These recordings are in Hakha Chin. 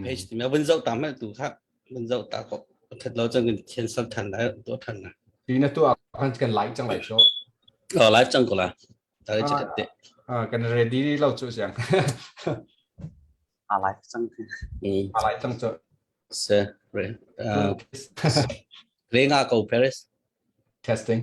page ti ma vun zoh ta ma tu kha vun zoh ta ko that lo chang kan cancel than da to than na ti na tu a kan kan like chang lai sho oh live chang ko la ta le chat te ah kan ready lo chu siang a live chang a live chang chu se re re nga ko paris testing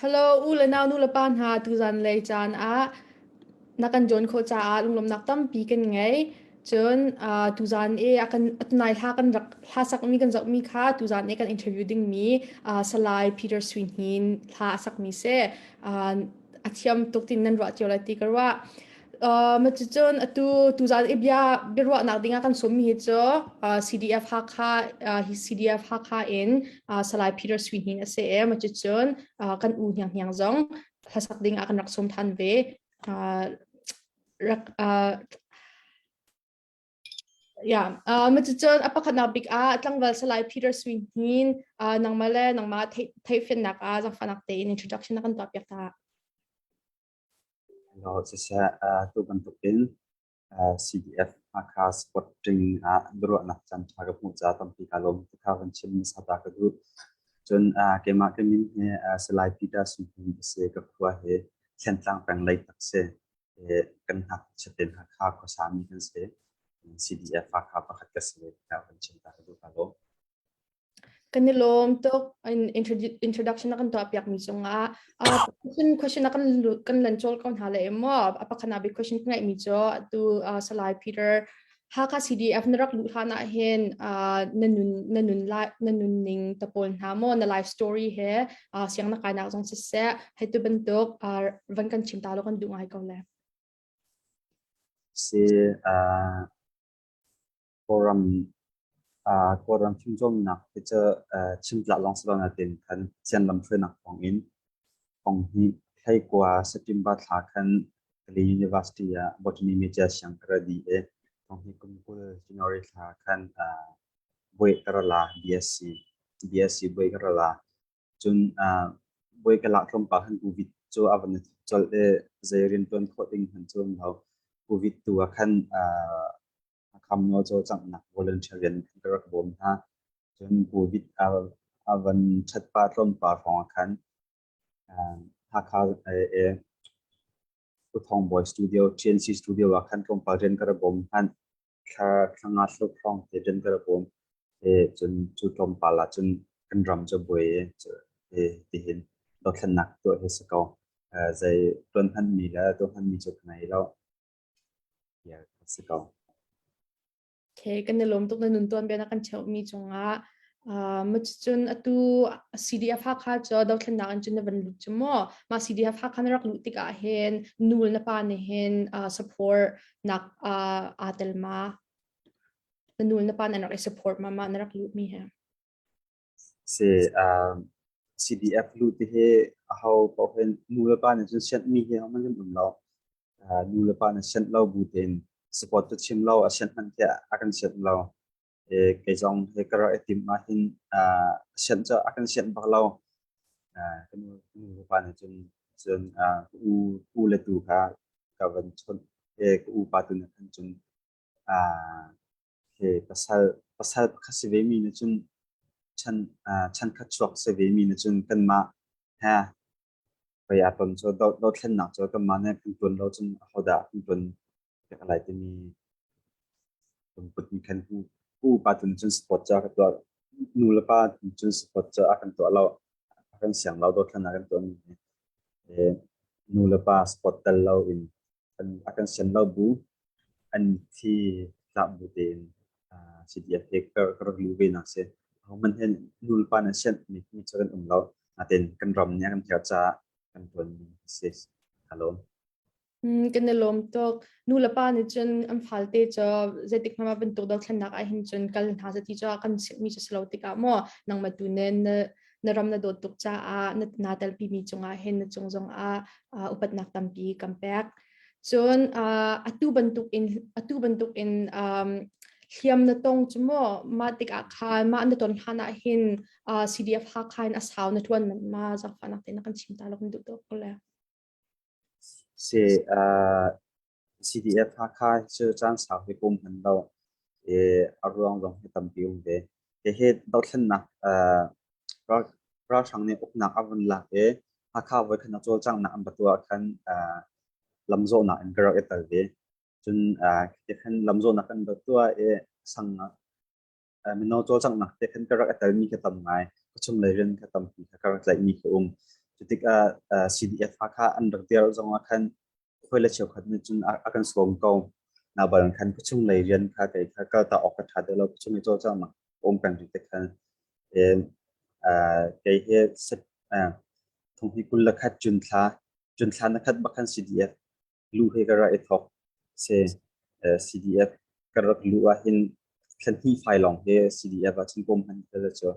Hello, u le nau nu le pa hna, tuzan lei caan ah na kan jawn khawh caah lunglawmhnak tampi kan ngei. Cun uh, tuzan i a kan tunai hla kan rak hla sakmi kan zohmi kha tuzan i kan interview dingmi uh, Salai Peter Swinhin hla a sakmi si. Uh, a thiam tuk tin nan ruah cio lai ti ka ruah. Uh, ma cun atu tuzaan i bia biaruahnak dingah kan sawmmi hi cu uh, CDF Hakha uh, hi CDF Hakha in uh, Salai Peter Sui Hing a si e ma cun uh, kan u hniang hniang zong hlasak dingah kan rak sawm than ve uh, rak uh, Yeah, uh, macicun a pakhatnak bik ah tlangval salai Peter Swing hin uh, nangmah le nangmah thei theifiannak ah zangfahnak tein introduction na kan tuah piak ta. Lo siseh uh, tu bantuk in uh, CDF Hakha Sporting ah duruahnak can tha ka hmu ca tampi ka lom te ka kan chim sa ta ka du cun uh, keimah ka min hi uh, salai Peter Swing hin se ka khua he thlen tlang peng lei tak se kan hngakchia tein Hakha khuasa mi kan si. CDF Hakha pakhat ka si. Ka kan chim ta ka duh ka lo. Kan i lawm tuk introduction na kan tuah piak mi cung ah question question na kan kan lan chol ko hna le maw a pakhat na big question ngai mi chu tu Salai Peter Hakha CDF na rak luh hlan ah hin uh, na nun na nun lai na nun ning ta pawl hna maw na life story he uh, siang na kainak zong siseh hei tu bantuk uh, van kan chim ta lo kan duh ngai ko le si uh, forum uh, forum chung zong nak te chu uh, chim tla long slo na tin kan chian lam thwe nak thong in Thong hi thlei kua September thla khan Kalay University ah botany media siang ka ra di e. Thong hi kum kul January thla khan uh, boi ka ra la BSc BSc boi ka ra la cun uh, boi ka la tlawm pa khan covid cu avan chol e zei rian tuan kho ding han chuan lo covid tu a khan uh, Akhamnaw cawlcanghnak volunteer rian an ka rak bawm hna. Cun COVID a van ṭhatpa tlawmpa hrawngah khan Hakha Uthawng Bawi Studio, TNC Studio ah khan tlawmpal rian ka ra bawm hlan thla nga thluk hrawng te rian ka ra bawm. Cun cu tlawmpal ah cun kan ram cu buai tihin dothlennak tuah hi si ko. Zei tuan hmanmi le tuah hmanmi cu ka ngei lo. Okay, kan i lawm tuk na nun tuan bia na kan cheuhmi cungah. Uh, macun atu CDF hakha cu dothlen nak in cun na van lut cu maw ma CDF hakha na rak luh tik ah hin nul na pa ne hin uh, support nak uh, aa tel ma na nul na pa na rak i support ma ma na rak luh mi he Si, um, CDF lut ti hi aho paoh hin nu le pa nih cun sianh mi hi hohmanh hin um lo. Uh, nu le pa nih sianh lo bu tein support cu chim lo a sianh hmanh tiah a kan sianh lo. E, kei zong he ka rak i tim ahhin uh, sianh cu a kan sianh bak lo. Uh, ka nu, ka nu le pa nih cun cun uh, ka u, u le tu kha ka van chawnh, e, ka u pa tu nih khan cun uh, Hi pasal pasal pakhat si ve mi nih cun chan ah chankhat chuak si ve mi nih cun kanmah he pei aa ton cu do dothlennak cu kanmah nih kan tuan lo cun ahodah kan tuan piak lai timi lungput in khan u u upa tu nih cun support cu a ka tuah nu le pa nih cun support cu a kan tuah lo a kan siang lo dothlennak kan tuah mi hi nu le pa support tel lo in an a kan sian lo bu an thi tlak bu tein si dia te ka ka rak lu ve nak se man hen nul pa na sian mi mi cho kan um lo aten kan ram ne kan thia cha kan ton se halo kan na lom tok nu la pa ni chun an phal te cho zetik ma ban tuk do thlan nak a hin chun kal na sa ti cho kan mi cho slo tika mo nang ma tu nen na na ram na dawt tuk caah na naa telpimi cungah hin na cung zongah uh, upatnak tampi kan pek cun uh, atu bantuk in atu bantuk in um, hliam na tong cu maw mah tikah khan mah na ton hlan ah hin uh, CDF ha khan a sau na tuan man ma zakfanak te na kan chim ta lok duh to kole se uh, CDF Hakha cu caan sau hi kum hman lo i a ruang zong hi tampi um ve. Hihi dothlennak ralhrang nih uknak a vun lak i Hakha voi khat na cawlcanghnak an batu ah khan lamzawhnak in ka rak i tel ve. Cun khi khan lamzawhnak kan batu ah i sang mino cawlcanghnak te khan ka rak i telmi ka tam ngai. Ka chunglei rian ka tampi kha ka rak tlaihmi ka um. Cutikah CDF Hakha an rak dir zongah khan hawi le cheukhat nih cun a kan sawm ko. Naban khan ka chunglei rian kha kei kha ka ta awk ka ṭha deuh lo. Ka chunglei cawlcanghnak um peng rih te khan kei he thong hi kul le khat cun thla, cun thla na khat bak khan CDF lu he ka rak i thawk. Si, CDF ka rak luh ahhin thlenhnih fai lawng hi CDF ahcun kum hman tal cu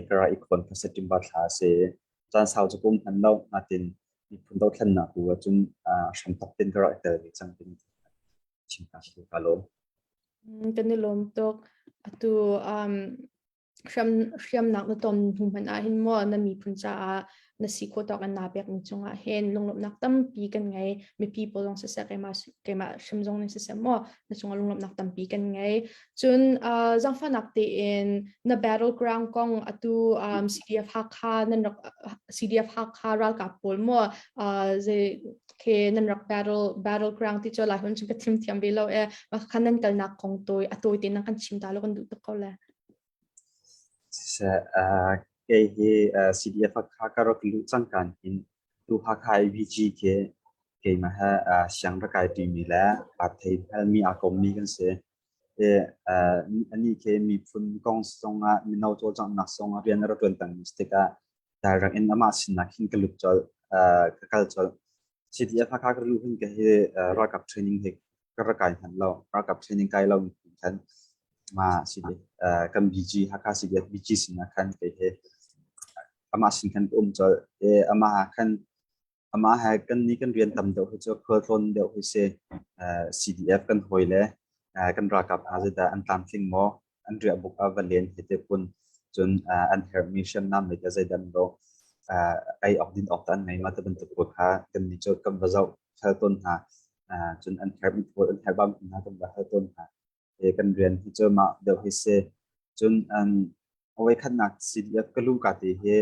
ka rak i khawn ka September thla a si. Caan sau cu kum hman lo natin miphun dothlennak bu ahcun hramthok tin ka rak tel ve cang tin chim ka si ka lo. Kan i lawm tuk. Atu um hriamnak na ton hnu hmanh ah hin maw na miphun caah na si khawh tawk an naa pekmi cungah hin lunglawmhnak tampi kan ngei mipi pawl zong siseh keimah keimah hrim zong nih siseh maw na cungah lunglawmhnak tampi kan ngei cun uh, zangfahnak tein na battleground kong atu um, CDF Hakha nan rak CDF Hakha ralkap pawl maw uh, ze ke nan rak battle battleground ti cho lai hun chun ka thim thiam ve lo e ma khan nan kalnak kong toi atoi te nan kan chim ta lo kan duh tuk ko le Kei hi CDF Hakha ka rak luh cangka hin tu Hakha AVG khi keimah he siang rak kai ṭimi le parthei hmelmi aa kommi kan si. Anih khi miphun kong zongah mino cawlcanghnak zongah rian a rak ṭuan pengmi si tikah dai rak in amah sinah khin ka lut colh, ka kal colh. CDF Hakha ka luh hin kei hi ralkap training hi ka ra kai hman lo ralkap training kai lo khan ma si kan BG Hakha CBF BG sin khan kei he ama sin khan um chol e ama ha khan ama ha kan ni kan rian tam deuh hi chu khol tlon deuh hi se CDF kan hoi le kan ralkap azata an tlam tling mo an riah buk a va len hi te kun cun an herhmi hriamnam le zeidan lo ei awk din awk tan mai ma te bantuk ko kha kan ni chot kan va zau hal ton hna cun an herhmi thol an herhbam hna kan va hal ton hna kan rian hi cu ma deu hi se cun an awai khatnak siliat ka lu ka te hi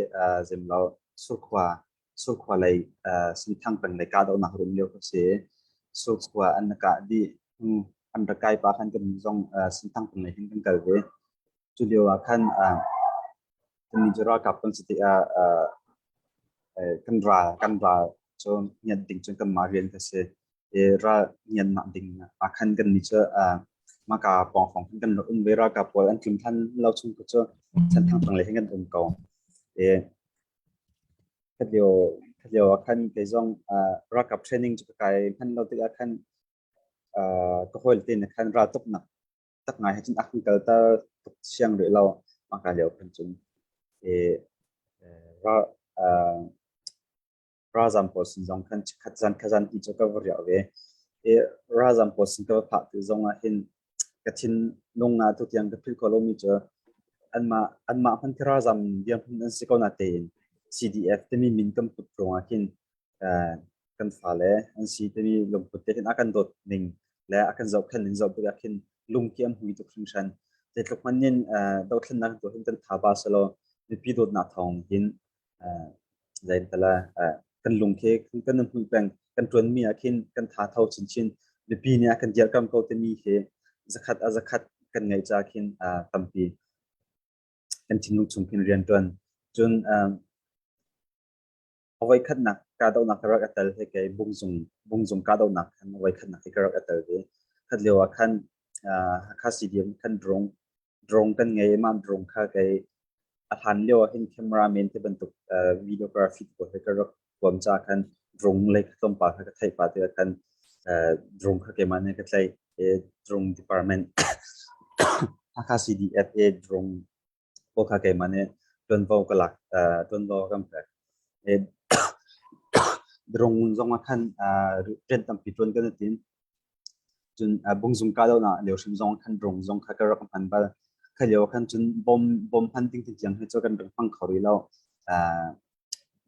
zemlo surkhwa surkhua lei sinthang peng lei kahdohnak rum lio kha si surkhua an kah dih an rak kai pa khan kan zong sinthang peng lei hin kan kal ve cu lio ah khan kan ni ralkap kan si ti ah kan ra kan ra cu ngiat ding cun kan ma rian ka si i ral ngiat nak ding a khan kan ni cu ma ka pong phong kan rak um ve ral ka pawl an tlim than lo chung ku cu san thang pang le hin kan um ko e Khalio ah khan kei zong ralkap training cu ka kai manh lo tikah khan ka hawile te nih khan raltuknak tak ngai he cun a kan kalter tuk siang rih lo. Mahka lio kan cun ralzam pawl sin zong khan khat zan khat zan ti cu ka va riah ve. Ralzam pawl sin ka va phah ti zong ah hin ka thinlung ah tutiang ka philh khawh lomi cu anmah anmah hmanh khi ralzam dirhmun an si ko na tein CDF timi min kan put ruang ah hin kan fale an si timi lungput te hin a kan dawt ning le a kan zohkhen ning zoh tik ah khin lungki an hui tuk hringhran zeitluk hmanh in dothlennak tu hin kan tha ba selaw mipi dawtnak thawng hin zaintala kan lung khi kan na hmuh peng kan tuan mi ah khin kan tha tho chin chin mipi nih kan dirkam ko te mi khi zakhat a zakhat kan ngei cha khin tampi kan thinlung chung khin rian tuan cun awai khat nak ka do nak rak atal he ke bung zung bung zung ka do nak khan awai khat nak ke rak atal ve khat lewa khan ha khasi diem khan drong drone kan ngei mah drone kha kei a hlan lio ah hin camera men te bantuk videography pawl he ka rak tuam ca khan drone le tlawm pa kha ka theih pa te khan drone kha keimah ne ka tlaih drone department Hakha CDFA drone pawl kha keimah ne tuanvo ka lak tuanvo kam pek drone zong ah khan rian tampi tuan kan tin cun bungzung kahdohnak lio hrim zong kan rung zong kha ka rak hman bal kha lio khan cun bom bom hman ding tin tiang hi cu kan rak hmang kho rih lo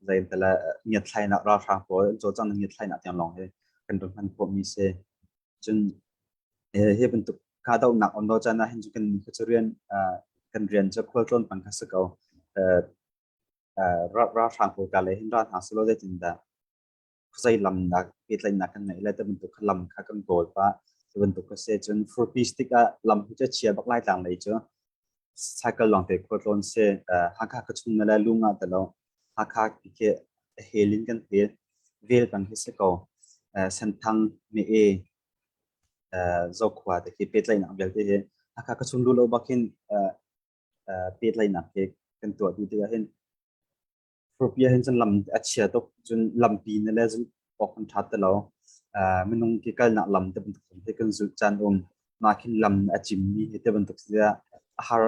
zain tala ngiat thlainak ra hrang pawl cho chang ngiat thlainak tiang long hi kan rak hman khawmi se cun hi bantuk kahdohnak on do chana hin chu kan kha chu rian kan rian chu khual tlawn pang kha se ko ra ra hrang pawl ka le hin ra hna selo zaitin da zei lam dah pehtlaihnak kan ngeih lai ti bantuk kha lam kha kan kawl pah ti bantuk a si cun furpi stick ah lam cu chia bak lai tlang lei cu cycle long te khua tlawn se hakha ka chung le lung ah talo hakha ke hel in kan hel vel pang hi se ko senthang me e zokhua te khi pehtlaihnak vialte hi hakha ka chung lu lo bakin pehtlaihnak ke kan tuah ti ti hin furpi ahhin cun lam a chia tuk cun lampi ne le zumh awk an ṭha ti lo minung ke kalnak lam te bantuk hi kan zulh caan um mah khin lam a cimmi hi te bantuk si a har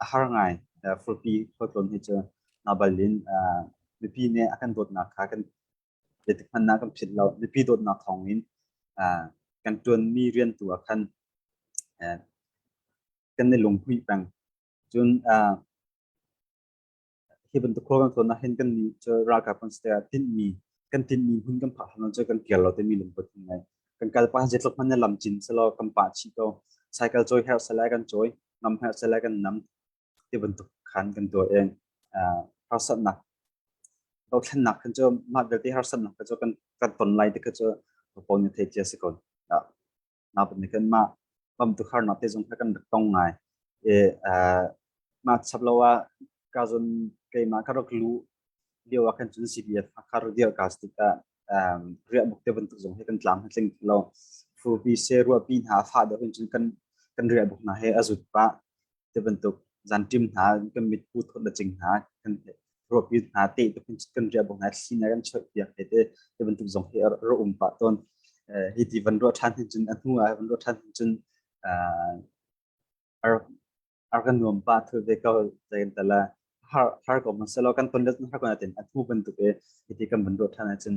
a har ngai furpi khuatlon hi cu nabal in mipi nih a kan dawtnak kha kan biatik hmannak kan phit lo mipi dawtnak thawng in kan ṭuanmi rian tu ah khan kan i lungpui peng cun hi bantuk khua kan thawn ahhin kan nih cu ralkap kan si tiah tinhmi kan tinhmi hmun kan phah hlan cu kan kir lo timi lungput kan ngei kan kal pa jetluk hman ne lam cin selaw kan pa chi ko cycle cawi her salai kan cawi ngam her salai kan nam ti bantuk khan kan tuah eng harsatnak dothlennak kan cu mah vialte harsatnak kan cu kan kan ton lai ti kha cu popon ne thei cia si kon na pan kan ma pam tu khar na te zong kan rak tong ngai e ma chap lo a ka zon ke ma ka rak lu liu a kan chun CPF khar dia ka stika ria muk te bantuk zong he kan tlam tling lo fu pi se ru pi na fa da kan chun kan kan ria buk na he azut pa ti bantuk zan ṭim hna kan mit pu thut la cing hna kan ruapi hna te kan ria bong hna sinar an choi piak te te ti bantuk zong hi ro um pa ton hi ti van ro than hin cun anu a van ro than hin cun ar kan nuam pa thu ve ko zain tala har har ko man selo kan ton let har ko na ten athu bantuk e iti kan ban ro than cun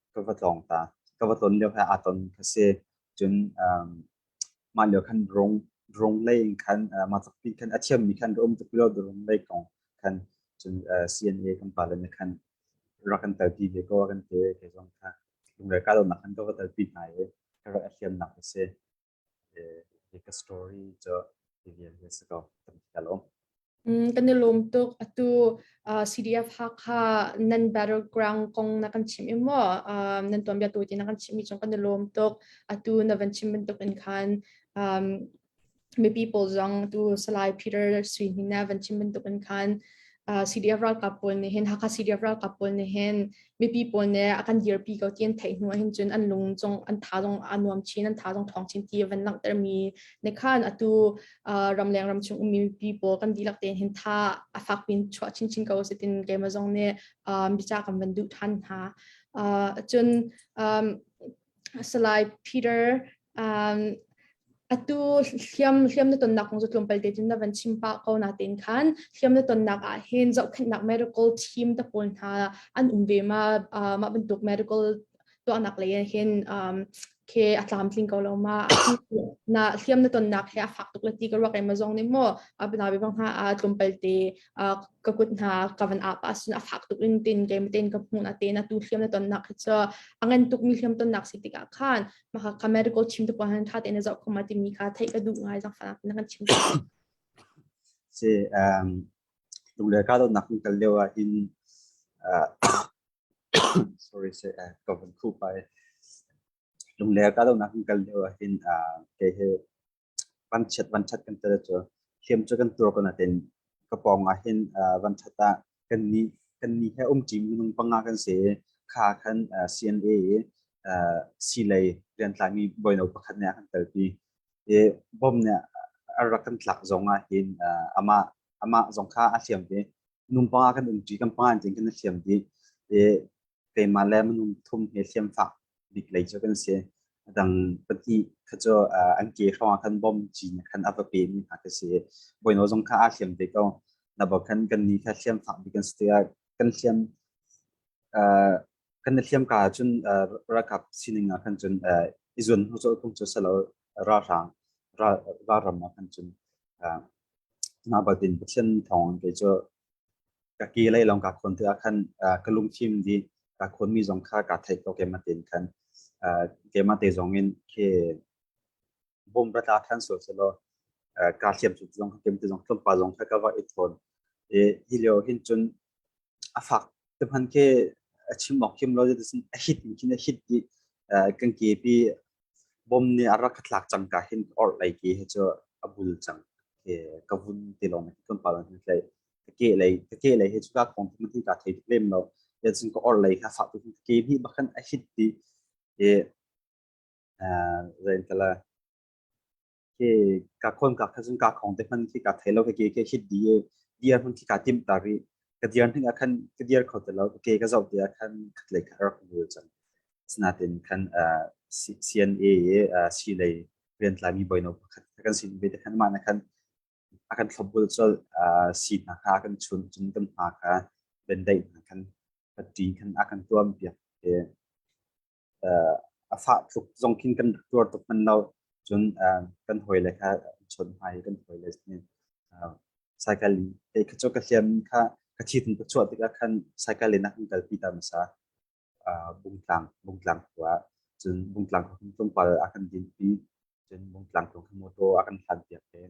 ka va tlawng ta. Ka va tlon lio he aa ton ka si. Cun um, mah lio khan rung rung lei in khan uh, mah tlak pi khan a thiam mi khan rum tuk lo rung lei kong khan cun uh, CNA kan pale ne khan rak kan tel pi ve ko kan te ke zong kha lungre ka lo nak khan ka va tel pi hna i ka rak thiam nak ka si Hi ka story cu hi vialte si ko kan ka lawm. Kan i lawm tuk. Atu CDF Hakha nan battleground kong na kan chim i maw nan tuanbia tu ti na kan chimmi cung kan i lawm tuk. Atu na van chim bantuk in khan mipi pawl zong tu Salai Peter Sui Hnin na van chim bantuk in khan CDF ralkap pawl nih hin Hakha CDF ralkap pawl nih hin mipi pawl ne a kan dirpi ko ti an theih hnu ahhin cun an lung zong an tha zong a nuam chin an tha zong thawng chin ti van langhter mi ne khan atu ramleng ramchung ummi mipi pawl kan dihlak tein hin tha a fak pin chuah chinchin ko sitin keima zong ne bica kan van duh than hna cun Salai Peter um, atu hliam hliam na tonnak kong cu tlawmpal te cun na van chim pah ko na tin khan hliam na tonnak ah hin zohkhenhnak miracle team te pawl hna an um ve ma uh, ma bantuk miracle tuahnak lei ah hin um, ke a tlam tling ko lo ma na hliam na tonnak he a fak tuk le ti ka ruak em zong ni mo abna be bang ha a tlum palte ka kut hna ka van apa sun a fak tuk in tin ke meten ka hmun aten a tu hliam na tonnak hi chu a ngan tuk mi hliam tonnak si tik ah khan ma ka medical chim tu han tha te na zo khoma ti mi kha thei ka du ngai jang fana na kan chim si um tung le ka do nak tal lewa in sorry say ka van khu pai lung le ka do nak kal lewa in ke he vanchiat vanṭhat kan tel cu hliam cu kan tuar ko nain ka pawng ah hin vanṭhat ah kannih kannih he um ṭi minung panga kan si i kha khan CNA i silei riantlangmi bawino pakhat nih a kan telpi i bom nih a rak kan tlak zong ah hin amah amah zong kha a hliam i minung panga kan um ṭi kan panga in kan hliam dih i keimah le minung pathum he hriamfak bik lei cu kan si. Adang pahnih kha cu an ke hrawng khan bom cin khan a va pe mi hna ka si. Boino zong kha aa hliam te ko. Na bo khan kan ni kha hriamfak bik an si tiah kan hliam kan hliam ka cun rakap sining ah khan cun i zun hnu cu kung cu salo ralhrang ralram ah khan cun na batin pathian thawng ke cu ka kehlei lawng kaa khawn tikah khan ka lungthin dih kaa khawnmi zong kha kaa theih ko keimah tein khan keimah te zong in ke bawmra tla than sual selaw kaa thiam cu zong keimah te zong tlawmpa zong kha ka va i thawn hi lio hin cun a fak te hman ke a chim awk kim lo a hit in khin a hit i kan kepi bawm nih a rak ka thlak cangka hin orhlei ke hi cu a bul cang ke ka vun te lawng hi kan pala hin tlei ka ke lei ka ke lei hi cu ka kong tu ti ka thei tuk lem lo ya cun ka orhlei ka fa tu ke hi bakhan a hit ti e eh zain kala ke ka kon ka kha zun ka khong te man khi ka thai lo ke ke hit di e dir hun khi ka tim ta ri ka dir hning a khan ka dir kho te lo ke ka zau te a khan khat le ka rak bul chan sna tin khan CNA si lei rian tlai mi boino khat kan sin ve te khan ma na khan a kan thlobul chol si na ha kan chun chun kan ha kha ben dai kan ka ti kan a kan tuam pia a fah tluk zong khin kan rak tuar tuk man lo cun kan hawi le kha chon hmai kan hawi le cycle in te kha chu ka hliam kha ka thi tun ka chuah tikah khan cycle in an kal pi ta masa bungtlang bungtlang khua cun bungtlang khua tlungpal a kan din pi Cun Mungtlang tu khi motor a kan hlan piak i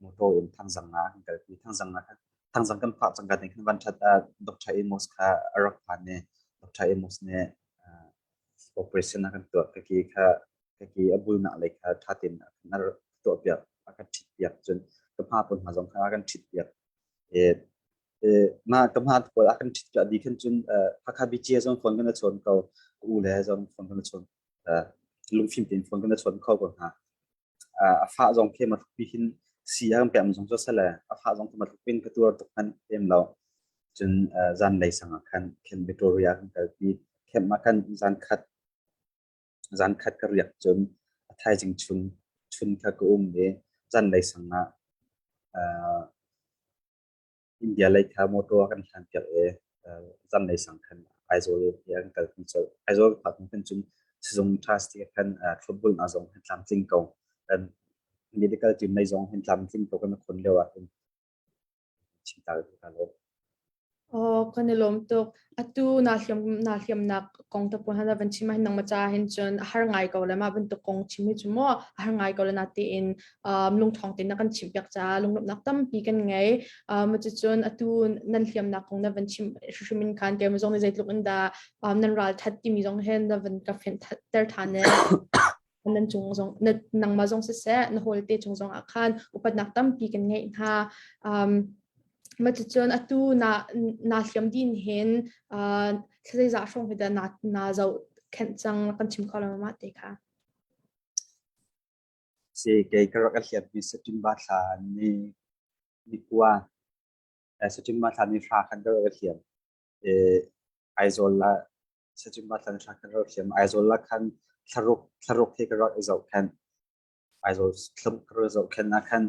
motor in thangzang nga kan kalpi thangzang nga kha thangzang kan phah cangka nih khan van that ah Dr. Amos kha a rak phan i Dr. Amos nih operation a kan tuah ka ki kha ka ki a bulnak lei kha thatin a kan tuah piak a kan thit piak cun ka hma pun hma zong kha a kan thit piak e ma ka hma pawl a kan thit piak di khan cun Hakha BGA zong phone kan a chawn ko u le zong phone kan a chawn lungfim tein phun kan chuan kho ko hna a fah zong khi ma tluk pi hin si a kan pem zong cu sale a fah zong ma tluk pin ka tuar tuk hman em lo cun zan lei sang ah khan khen Victoria kan kal pi khem ma khan zan khat zan khat ka riak cun a thaizing chun chun kha ka um i zan lei sang ah India lei kha motor kan hlanpiak i zanlei sang khan Aizawl i an kalpi colh. Aizawl phakmi khan cun sizung trustee khan thlopbul hna zong hin tlamtling ko. Medical team lei zong hin tlamtling ko kan khon lio ahcun. Chim ta ka lawm. Aw, kan i lawm tuk. Atu na hliam na hliamnak kong te pun hana van chim hin nang macha hin cun a har ngai ko le ma bantuk kong chim hi chu mo a har ngai ko le na ti in um lungthong tin na kan chim piak cha lunglopnak tampi kan ngei um cu cun atu nan hliamnak kong na van chim hrimin khan ke mzong ni zeitluk in da um nan ral that timi zong hen na van ka fen ter than ne nan cung zong nangmah zong siseh na hawl te cung zong ah khan upatnak tampi kan ngei hna um, maticun atu na na hliam din hin uh, zeizah hrawng hida na na zo khen cang kan chim kho ma te kha si kei ka rak hliam hi september thla ni ni kwa september thla ni fra khan ka rak hliam e aizawl la Sachimba thlan thla kan rak thiam Aizawl la khan thlaruk thlaruk hi ka rak i zoh khan Aizawl thlum ka rak zoh khan na khan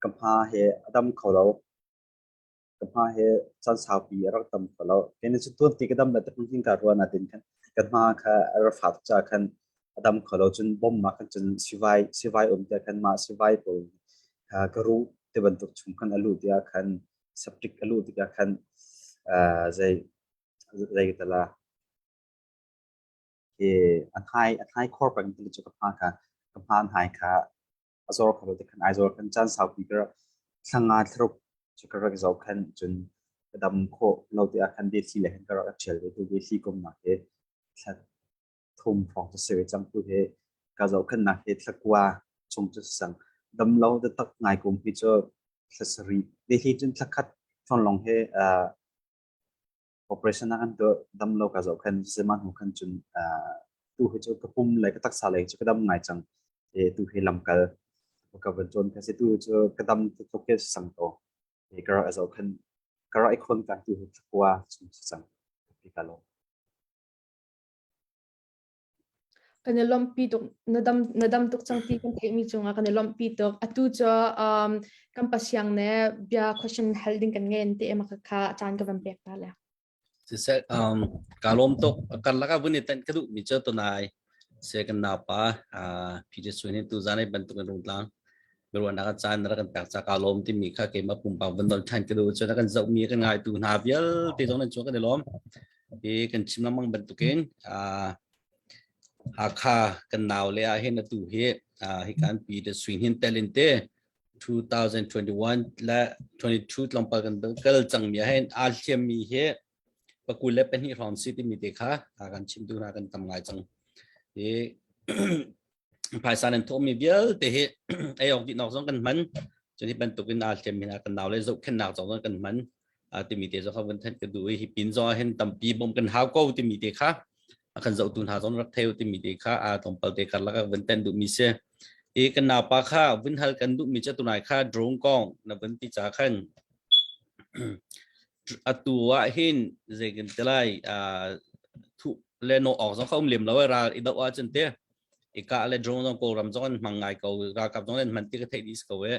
ka hma he a dam kho lo ka hma he chan saupi a rak tam kho lo kene chu tuan ti ka dam la te pung ka ruan a tin khan ka hma kha a ra fa cha khan adam kholo chun bom ma kan chun sivai sivai um te khan ma sivai pol ka ru te bantuk chung khan alu tia khan septic a luh tikah khan zei zei ta la ke a hnai a hnai khor pang tu chu ka pa ka ka pa hnai kha a zor kha te khan ai zor kan chan sau pi kra thanga thruk chu ka rak zo khan chun ka dam kho lo te a khan de si le khan ka rak thial te tu de si kom na ke thlat thum hrawng cu si ve cang tu hi ka zohkhenhnak hi thlakua chung cu sang damlo taktak ngai kum hi cu thlasari te hi cun thlakhat thon long he uh, operation an tu damlo ka zohkhen zeman hu khan chun tu hi chu ka pum lai ka taksa lai chu ka dam ngai chang e tu hi lamkal ka van chon ka se tu chu ka dam to ke sang to e ka ra zohkhen ka ra ikhon kan tu hi thakwa chung sang ka lo kan i lawmhpi tuk na dam na dam tuk cang ti kan theihmi cungah kan i lawmhpi tuk atu cu um, kan pasiang ne bia question hal ding kan ngen te ema kha caan ka van pek ta le siseh um, ka lawm tuk kan laka vun i tan ka duh mi cu tunai se kan napa uh, Peter Swin hi tu zanai bantuk in rungtlang ruahnak a caan rak kan tak caka lawm timi kha keimah pumpak van dol than ka duh cun kan zoh mi kan ngaitu hna vialte zong nan chuak kan i lawm i kan chim lengmang bantukin Hakha kan nau le ah hin atu hi hi kan pi de suin hin telin te 2021 le 22 tlawmpal kan kal cang mi hen a thiam mi hi pakul le pahnih hrawng si timi te kha kan chim tu hna kan tam ngai cang i phaisa nan thawhmi vialte hi ei awk dih zong kan hman cun hi bantuk in aa hliam min kan nau le zohkhennak zong kan hman timi te zong kan thanh ka du hi pin zong hin tampi bom kan hau ko timi te kha kan zohtu hna zong rak theo timi te kha a tompal te kar laka vun ten du mi se i kan napa kha vun hal kan du mi cha tunai kha drone kong na vun ti cha khan atu ah hin zei kan te lai thu le no ok zong khom lem lo ra i do a chen te ika le drone zong ko ram zong an mang ngai ko ra kap zong an man ti ka thei dis ko e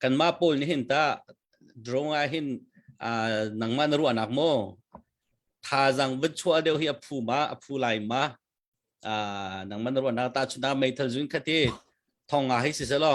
kan ma pol ni hin ta drone a hin nang ma na ru anak mo tha jang bit chua deu hi aphu ma aphu lai ma nang man ru anak ta chuna mei thal zun khati thonga hi si selo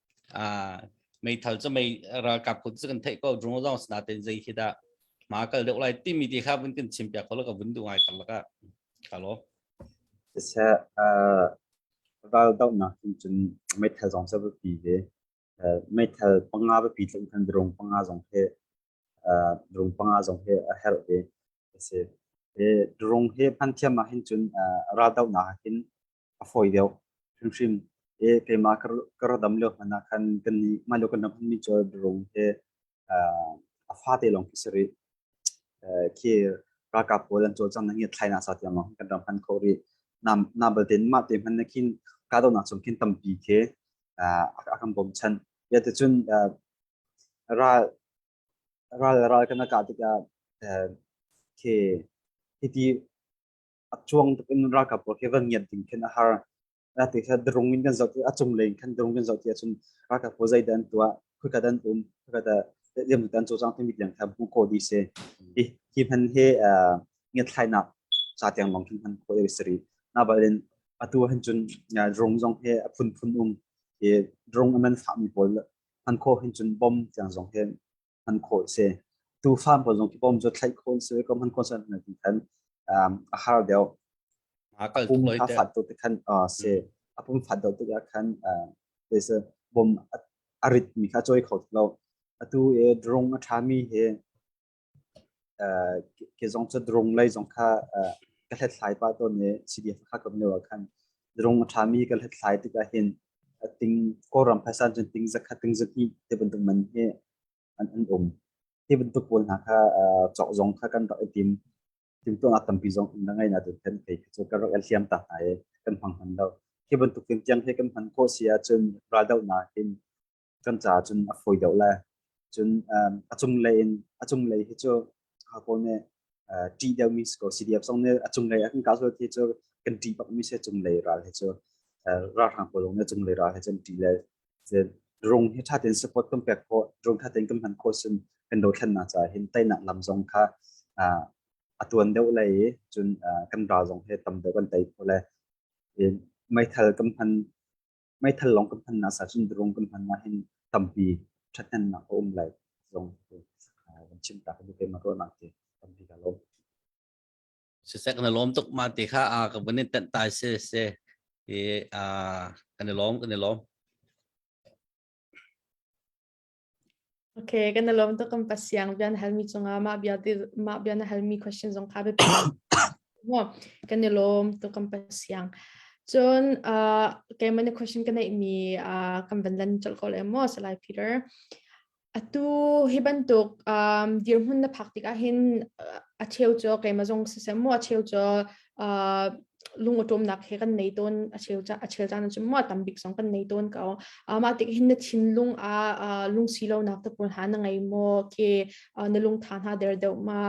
Ah meithal cu mei ralkap kun cu kan theih ko drone zong sna ten zei khi dah ma kal deuh lai timi ti kha vun kan chim piak ko ka vun duh ngai kan laka ka lo se ral dau na cun cun meithal zong sa pi ve meithal panga pi tlung kan drone panga zong he drone panga zong he a her ve se drone he hman thiam ma hin cun ral dau na hin a fawi deuh hrimhrim. E keima ka ra dam lio hmanh ah khan kan nih mah lio kan ram hmanmi cu birung he a fate lawng khi si rih. Khi ralkap pawl an cawlcang na ngiat thlai na sa tiang lawng kan ram hman kho rih. Na balte mah te hman na khin kahdohnak cung khin tampi khi a kan bawmchan. Yate cun ral ral ral kana kah tikah khi hiti a cuang tuk in ralkap pawl he van ngiat ding khin a har a ti kha drung in kan zoh a cung len khan drung kan zoh ti ahcun ralkap pawl zeidah an tuah khuika dan um khuika da liam dan cu cang timi liang kha hmu ko di se i hi hman he ngiat thlainak sa tiang long khin hman ko iri sari na balin atu han chun drung zong he a phun phun um i drung aman fa mi pawl man kho hin chun bom tiang zong he hman khawh a si. Tu farm pawl zong kipom cu thlaih khawh an si ko hman khawh an ti khan a har deuh. A kal tuk loi te. Pum a fat tuk te khan si a pum fat deuh tuk khan se bom a rit mi kha choi kho lo. Atu e drong a tha mi he ke zong cu drong lei zong kha ka hlet thlai pa to ne CDF kha kam ne wa khan drong a tha mi ka hlet thlai tik ah hin ting kawlram phaisa cun ting zakhat ting zahnih ti bantuk man hi an an um hi bantuk pawl hna kha cawk zong kha kan rak i tim timtuang ah tampi zong in ngai na tu kan thei cu kan rak liam ta hna i kan hmang hman lo hi bantuk tin tiang hi kan hman ko si ahcun raldoh nak in kan caah cun a fawi deuh le cun a cunglei in a cunglei hi cu ha kawl nih ṭih deuhmi si ko CDF zong nih a cunglei a kan kah sual ti cu kan ṭih bakmi si cunglei ral hi cu ralhrang pawl nih cunglei ral hi cun ṭih le drone hi ṭha tein support kan pek khawh drone ṭha tein kan hman khawh cun kan dothlennak caah hin teinak lam zong kha a tuan deuh lei i cun kan ral zong hi tam deuh kan tei khawh le meithal kan hman meithal lawng kan hman nak sa cun drone kan hman nak hin tampi thathnemnak a um lai zong kan chim ta ka bu ke ma ko nak ti tampi ka lo sisek na lom tuk ma te kha a ka bun in tan tai se se e a kan lom kan lom Okay, kan na lawm tuk kan pasiang bian halmi cungah mah bia ti mah bia na halmi question zong kha biapi mo kan ni lawm tuk kan pasiang cun uh, keimah ni question ka nei mi uh, kan van lan chol ko le mo salai Peter atu hi bantuk um, dirmun na phak tik ahin a cheu cho keimah zong se mo a cheu cho uh, lungotomnak he kan nei ton a cheu a cheu caan cu mo tam bik song kan nei ton ko uh, mah tik hin na thinlung a uh, lungsilonak te pawl ha na ngei mo ke uh, na lung tha hna der deuh ma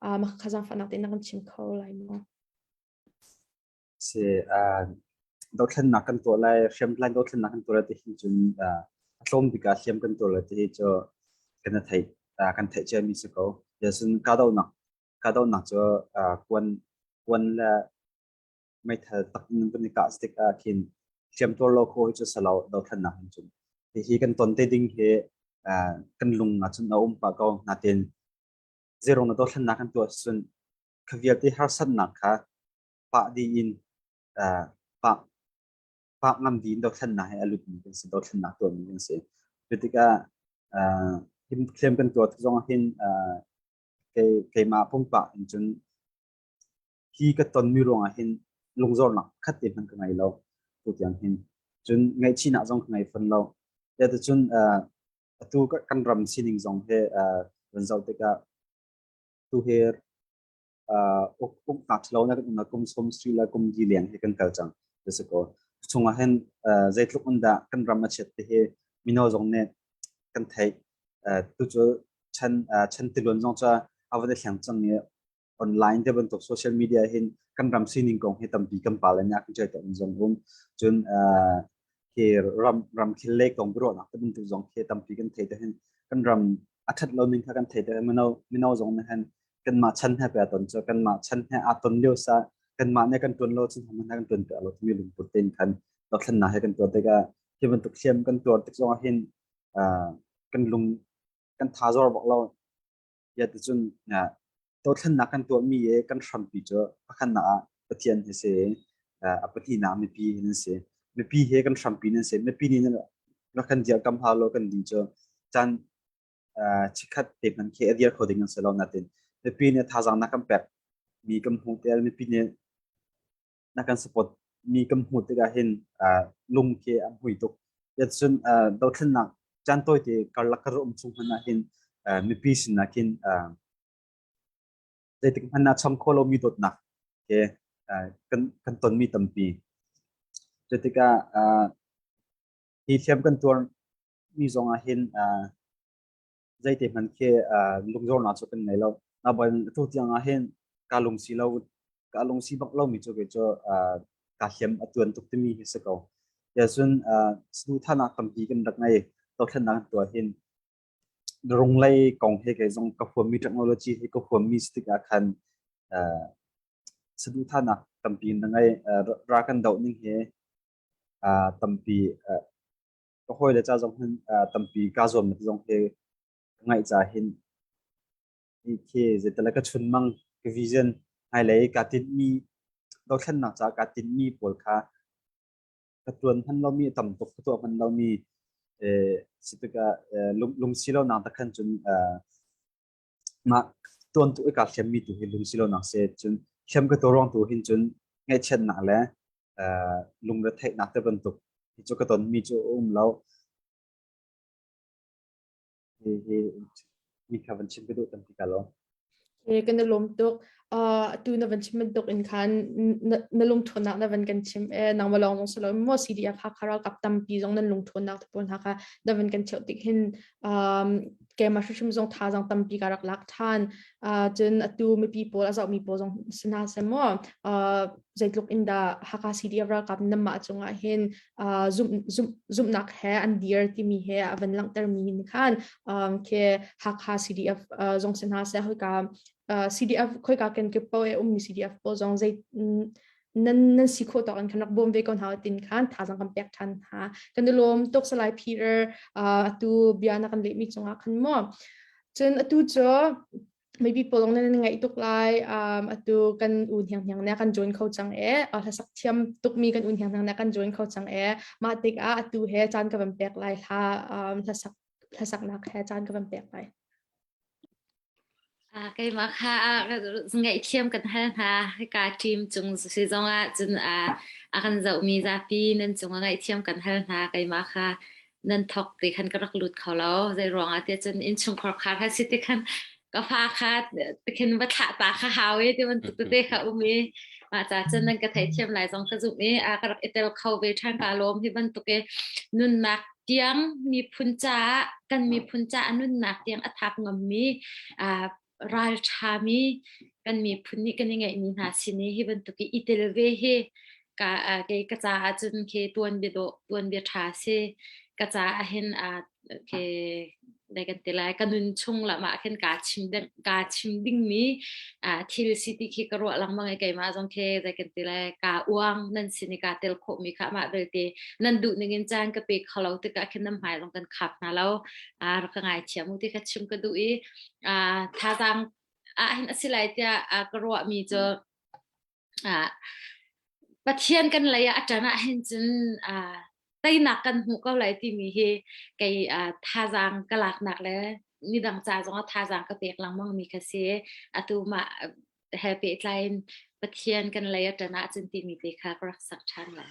uh, ma khazang fanak te na kan chim kho lai mo si uh, dothlennak kan to lai hrem plan dothlennak kan to lai te hin cun uh, atlom bika hliam kan to lai te hi cho kan thai kan thai che mi se ko yasun ka do nak kahdohnak cu kuan kuan le meithal tak ning kan i kah stik ah khin hriamtuar lo kho cu salo dothlannak in cun hihi kan ton te ding hi kan lung nga chun a um pa ko natin zero na dothlannak kan tuah sun khavial ti harsannak kha pa di in pa pa ngam di in dothlannak he alut mi kan si dothlannak tuah mi kan si tikah him thlem kan tuah zong hin kei keimah pumpak in cun hi ka tonmi ruangah hin lungzornak khat te hmanh ka ngei lo tu tiang hin cun ngaihchihnak zong ka ngei fon lo cun atu kan ram sining zong he kan zoh tikah tu he uk ngak lo na na kum som sri la kum di liang he kan kal cang jase ko chungah hen zeitluk un dah kan ram a chet te he mino zong ne kan theih tucu chan chan tiluan zong ca a van i thleng cang i online te bantuk social media hin kan ram sining kong hi tampi kan pal in ak jai ta in zong hum cun hi ram ram khil le kong biro nak te bantuk zong khi tampi kan thei ta hin kan ram a that lo ning kha kan thei ta mino mino zong na hen kan ma chan ha pe ton cho kan ma chan ha a ton leo sa kan ma ne kan tuan lo chin ham na kan tuan pe lo mi lung put ten kan to thlan na he kan tuan te ga hi bantuk siam kan tuan tik zong hin kan lung kan tha zor bak lo yaticun dothlannak kan tuahmi i kan hrampi cu pakhatnak ah pathian hi si a pahnihnak mipi hi nan si mipi he kan hrampi nan si mipi nih kan dir kam ha lo kan ding cu chan chikhat te man khi adir kho ding se lo natin mipi nih thazang na kan pek mi kan hmu tel mipi nih na kan support mi kan hmu tikah hin lung ke a hmui tuk yatsun dothlennak chan toy te karlak kar um chung hman hin mipi sin na kin zeitik hman na cham kholo mi dot nak ke kan kan ton mi tampi jetika hi thiam kan tuar mi zong ah hin zeite hman khe lungzornak cu kan ngei lo na boy a tu tiang ah hin ka lungsi lo ka lungsi bak lo mi cu ke cu ka hiam a tuan tuk timi hi se ko ya sun snu thana tampi kan rak ngai to thlan nang to hin runglei kong he ke zong ka huam mi technology he ka huam mi stik a khan snu thana tampi na ngai ra kan do ning he tampi ka hawile ca zong hin tampi kaa zuamnak zong hi ka ngaih ca hin hi khi zeitala ka chunmang ka vision hmailei ka tinmi dothlennak ca ka tinmi pawl kha ka tuan hman lomi tam tuk ka tuah hman lomi si tikah lungsi lo nang takhan cun mah tuantu i kaa hriammi tu hi lungsi lonak si cun hriam ka tu ruang tu hin cun ngaihchiatnak le lungretheihnak te bantuk hi cu ka tonmi cu a um lo hi hi mi kha van chim ka duh tampi ka lawm. Ke kan i lawm tuk. atu na van chim bantuk in khan na lungthuannak na van kan chim e nangma lawng mong salo mo CDF ha khara kap tampi zong nan lungthuannak te pawl hna kha na van kan cheu tik hin kema hrim zong tha zong tampi ka rak lak than cun atu mipi pawl azau mi pawl zong sina se mo zeitluk in da haka CDF ralkap namma cungah hin zumnak he an dir timi he a van langter mi hin khan ke haka CDF zong sina se hoika uh, CDF khoika ken ke po e ummi CDF po zong zei nan nan si kho tawk an kan rak bom ve ko hna tin khan tha zang kan pek than ha kan lom tok salai peter atu bia na kan le mi chunga khan mo chun atu cho maybe polong na ngai tuk lai um atu kan un hiang hiang na kan join kho chang e a la sak thiam tuk mi kan un hiang hiang na kan join kho chang e ma tik a atu he chan ka van pek lai la um la sak la sak nak he chan ka van pek lai A keimah kha a ka ngaihthiam kan hal hna. Hika ṭim cung si zongah cun a a kan zohmi zapi nan cungah ngaihthiam kan hal hna. Keimah kha nan thawk ti khan ka rak lut kho lo. Zeiruangah tiah cun innchungkhar khar kha si ti khan ka fa kha ti khin va thlah ta kha hau i ti bantuk tete kha um i mah ca cun nan ka theihthiam lai zong ka zumh i a ka rak i tel kho ve ṭhan ka lawm hi bantuk i nunnak tiang miphun caah kan miphun caah nunnak tiang a thap ngammi ralṭhami kan miphun nih kan i ngeihmi hna sin i hi bantuk i itel ve hi ka kei ka caah cun ke tuan bia dawh tuan bia ṭha si ka caah hin ke dai kan ti lai ka nun chung lamah khin kaa chim ding kaa chim dingmi uh, thil si ti khi ka ruah langmang ai keima zong khi dai kan ti lai ka uang nan sin i kaa tel khawhmi kha mah belte nan duh ning in caan ka pe kho lo ti ka khin nan hmai long kan khap hna lo uh, ka ngai thiam u ti ka chim ka duh i uh, thazang ah hin asilai tia uh, ka ruahmi cu Ah, Pathian kan lei ah a ṭan ahhin cun, ah, teinak kan hmu ko lai timi hi kei, ah, thazaang ka laknak le midang ca zongah thazaang ka pek lengmangmi kha si. Atu mah he pehtlaiin Pathian kan lei a ṭan ahcun timi te kha ka rak sak ṭhan lai.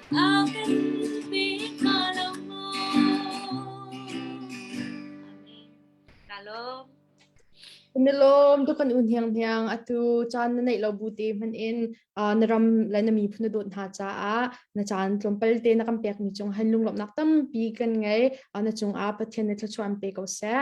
A kan pe hnga lo maw? Amen. Ka lawm. Na lawm tukan un hiang hiang atu chan na neih lo bu te hman in uh, na ram le na mi phun dot hna cha a na chan tlompal te na kam pek mi chung han lunglop nak tampi kan ngai uh, na chung a pathian na thlachuan pe ko se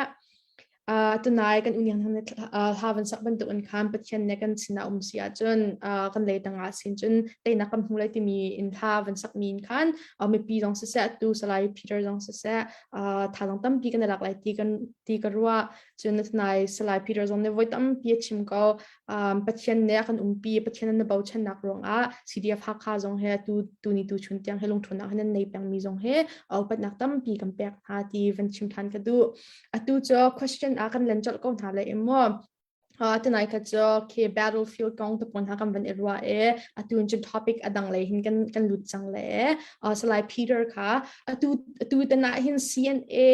uh, tunai kan uniang thang uh, havan sak bantuk in khan pathian ne kan sina um si ah cun uh, kan le tanga sin cun teina kam hnu lai timi in tha van sak min khan uh, mipi dong se se tu salai peter dong se se uh, tha dong tam pi kan lak lai ti kan ti ka rua cun tunai salai peter dong ne voi tam pi chim ko um, pathian ne kan um pi pathian na bo chen nak rong a CDF hakha zong he tu tu ni tu chun tiang helung thunak hen nei peng mi zong he au pat nak tam pi kan pek ha ti van chim than ka du atu cu question ah kan len colh ko hna le maw tunai kha cu khi battlefield kong te pon ha kan van i ruwa e atun chin topic adang lei hin kan kan lut chang le salai peter kha atu atu tana hin CNA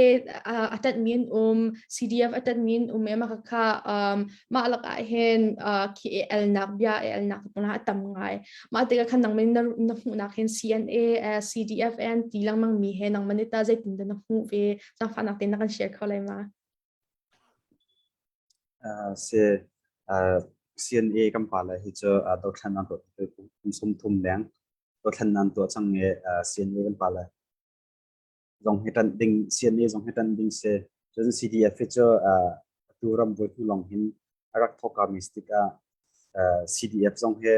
atat min um CDF atat min um e maka kha ma lak a hen khi e el nak bia e el nak pon ha tam ngai ma te khan nang min na hu nak hin CNA CDF an ti lang mang mi he nang manita zeitin da na hu ve Cangfahnak tein na kan share kho lai ma? Uh, se uh, CNA kan pa lai hi cu uh, dothlan nan tuah kum sum thum leng dothlan nan tuah chang nge uh, CNA kan pa lai zong hi tan ding CNA zong hi tan ding se cun CDF hi cu uh, tu ram voi tu long hin arak thoka mistik a uh, CDF zong he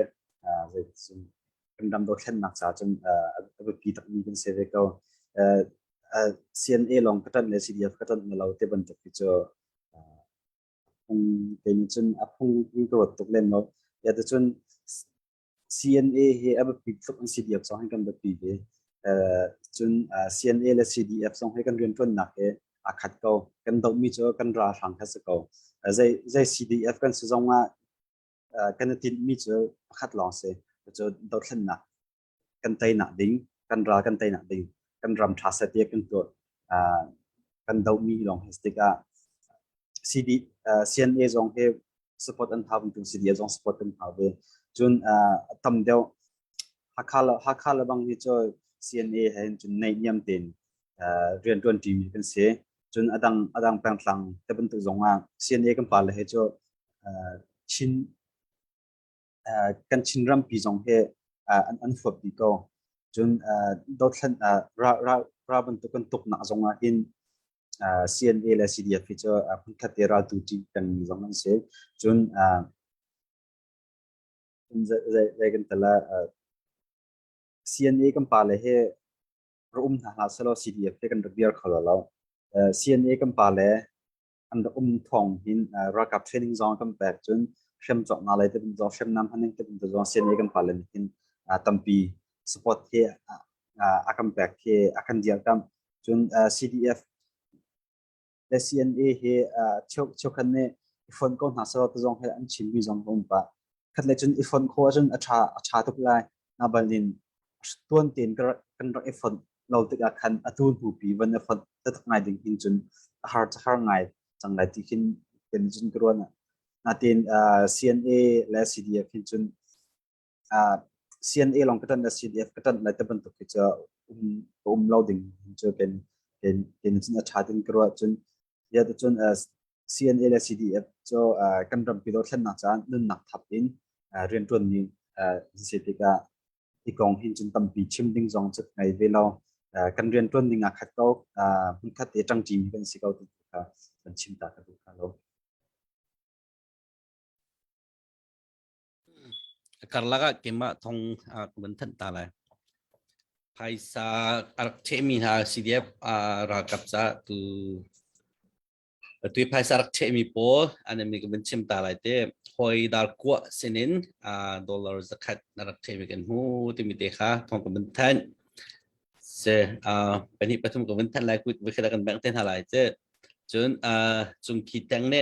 uh, zei zum kan ram dothlennak ca cun a biapi takmi kan si ve ko. CNA lawng ka ṭanh le CDF ka ṭanh na lo te bantuk hi cu phung te nih cun a phung in ka ruat tuk len lo. Ya te cun CNA hi a biapi tuk in CDF zong kan biapi ve. Cun CNA le CDF zong hi kan rianṭuannak hi a khat ko. Kan dohmi cu kan ralhrang kha si ko. Zei CDF kan si zong ah kan i tinhmi cu pakhat lawng si cu dothlennak kan teinak ding kan ral kan teinak ding kan ram tha set tiah kan tuah kan dohmi lawng hi tikah CD CNA zong he support an hau tu CD zong support an hau ve cun a tam deuh Hakha lebang hi cu CNA he cun naihniam tein rian ṭuanṭimi kan si. Cun a dang pengthlang te bantuk zongah CNA kan pale he cu kan Chinrampi zong hi an huap dih ko. Cun dothlan ral bantuk kan tuknak zongah hin CNA le CDF hi cu hmunkhat i raltu ṭih pengmi zong an si. Cun zei kan tal CNA kan pale he ra um hna hna selo CDF te kan rak biar kho lo CNA kan pale an rak um thong hin ralkap training zong kan pek cun hrem chok na lai te kan zong hrem nam haning te kan zong CNA kan pale hin tampi support he a kan pek he a kan dial kam cun CDF le CNA he cheukhat nih i fon ko hna selaw tazong he an chimmi zong ka um pah khat le cun i fon kho ahcun a tha a tha tuk lai na balin tuan ten kan rak i fon lo tik ah khan atu hnu pi van i fon tatak ngai ding hin cun har chakar ngai chang lai ti hin kan cun kruan na tin CNA le CDF hin cun CNA lawng ka ṭanh le CDF ka ṭanh lai te bantuk hi cu um ka um lo ding cu kan kan cun a ṭha ding ka ruah cun ya tu cun CNA le CDF cu kan rampi do thlennak caan nunnak thap in rianṭuan ni si tikah i kong hin cun tampi chim ding zong cu ngai ve lo kan rianṭuan ding ah khat ko hmun khat e ṭangṭi mi kan si ko tu kha kan chim ta ka duh kha lo karlak ah keimah thong ah kan thanh ta lai phaisa a rak chehmi hna CDF ralkap ca tu tu phaisa rak chehmi pawl anami kan chim ta lai te hoi dar kuwa sinin dollar zakhat na rak chehmi kan hu timi te kha thong kan thanh se pahnih pathum kan thanh lai kut kan bek te hna lai che cun cung khi tang ne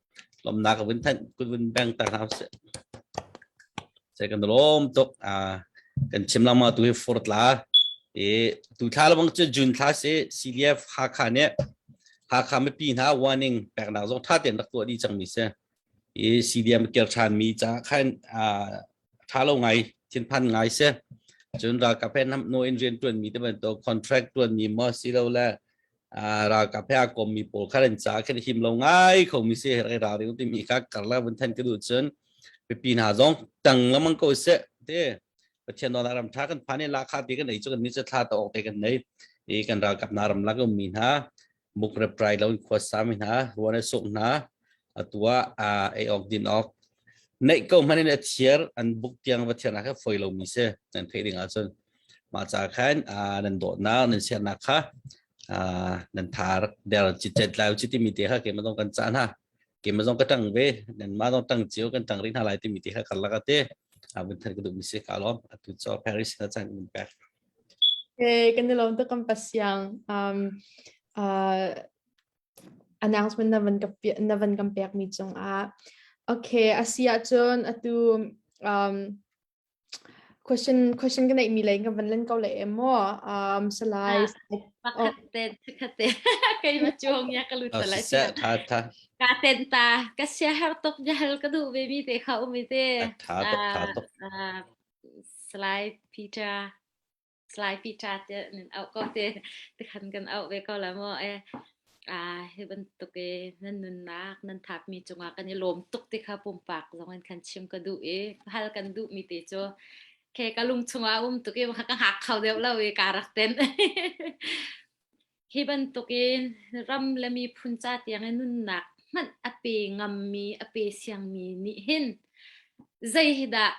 lomnak ka vun thanh kun vun bang ta hna se sai kan lom tuk a kan chim lama tu hi furtla e tu thla lo bang chu june thla se CDF Hakha ne Hakha mi pi hna warning pek na zo tha ten rak tu di chang mi se e CDM ker than mi cha khan a tha lo ngai thin phan ngai se chun ra ka pen nam no in ren tuan mi te ban to contract tuan mi ma si lo la ralkap he a kommi pawl kha an caah kan him lo ngai khomi si rai ra ring timi kha karla vun than ka duh cun pipi hna zong tang lamang ko se te pathian dona ram tha kan phane la kha pe kan nei chu kan ni cha thla to ok kan nei i kan ralkap na ram la ko mi hna muk reprai lo khwa sa mi hna ruane suk hna a tua a ei awk din awk neih ko hmanh in a thiar an buk tiang va thiar kha foi lo mi se nan theih ding ahcun mah ca khan nan dawtnak nan siarnak kha nan thar der ci tet lai ci ti mi te kha keimah dong kan ca hna keimah dong ka tang ve nan ma dong tang cio kan tang ring hna lai ti mi te kha kar laka te abin than ka duh mi se ka lom atu cho Paris na chan min pa Okay, kan nilawn to kan pasiang um uh announcement na van ka na van kan pekmi cungah okay a si ahcun atu um, question question ka neihmi lei ka van len ko le em maw um, salai pakhat te pakhat te kai ma chuang ya ka lut lai sia tha tha ka ten ta ka sia har tok ja hal ka du ve mi te kha umi te tha tok tha tok salai peter Slaipi ṭa te nan auh ko te tikhan kan auh ve ko la maw. Eh, ah hi bantuk i nan nunnak nan thapmi cungah kan i lawm tuk ti kha pumpak zong in kan chim ka duh i hal kan duhmi ti cu ke ka lung chungah um tuk i ka hak kho deuh lo i ka rak ten. Hi bantuk in ram le miphun ca tiang i nunnak hmanh a pe ngammi a pe siangmi nih hin zei hi dah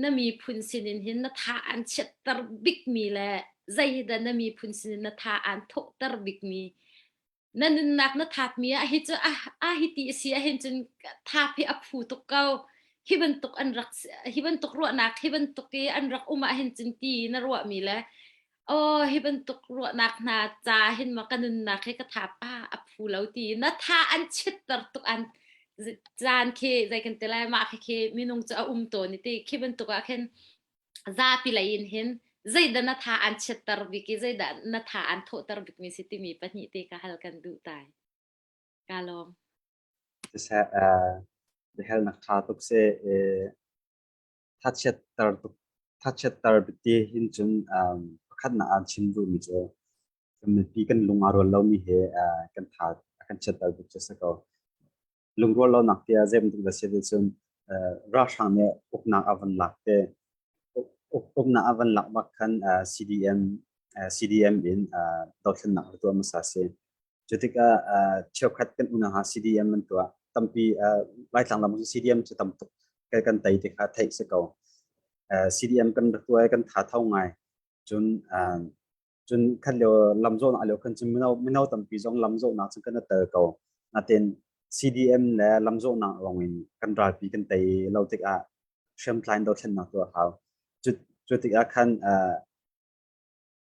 na miphun sinin hin na tha an chiatter bikmi le zeidah na miphun sinin na tha an thawhter bikmi na nunnak na thatmi ah hi cu ah a hi ti si ah hin cun tha phi a phu tuk ko hi bantuk an rak hi bantuk ruahnak hi bantuk i an rak um ah hin cun ti na ruahmi le Aw, hi bantuk ruahnak hna ca hin maw ka nunnak hi ka tha pa a phu lo ti na tha an chitter tuk an z- caan khi zei kan ti lai mah khi khi minung cu a um tawn i ti khi bantuk ah khin zapi lei in hin zeidah na tha an chitter bik i zeidah na tha an thawhter bikmi si timi pahnih te ka hal kan duh tai ka lawm siseh uh, the hell na kha tuk se eh, thachiatter tuk thachiatter te hin cun um, pakhatnak aan chim duhmi cu kan mipi kan lung aa rual lomi he uh, kan tha kan chiatter tuk cu a si ko lungrual lonak te ah zeim tuk da si cun uh, ralhrang nih uknak a van lak te uknak a van lak bak khan uh, CDM uh, CDM in uh, dothlennak atu amasa si Cu tikah cheukhat kan unang ah CDM an tuah. Tampi Laitlang lam cu CDM cu tam tuk kan tei ti kha theih si ko. CDM kan rak tuah i kan tha tho ngai. Cun cun khan lio lam zawhnak lio khan cu mino tampi zong lam zawhnak cu kan tel ko. Nain CDM le lam zawhnak lawng in kan ralpi kan tei lo tikah hriamtlain dothlennak tu a hau. Cu tikah khan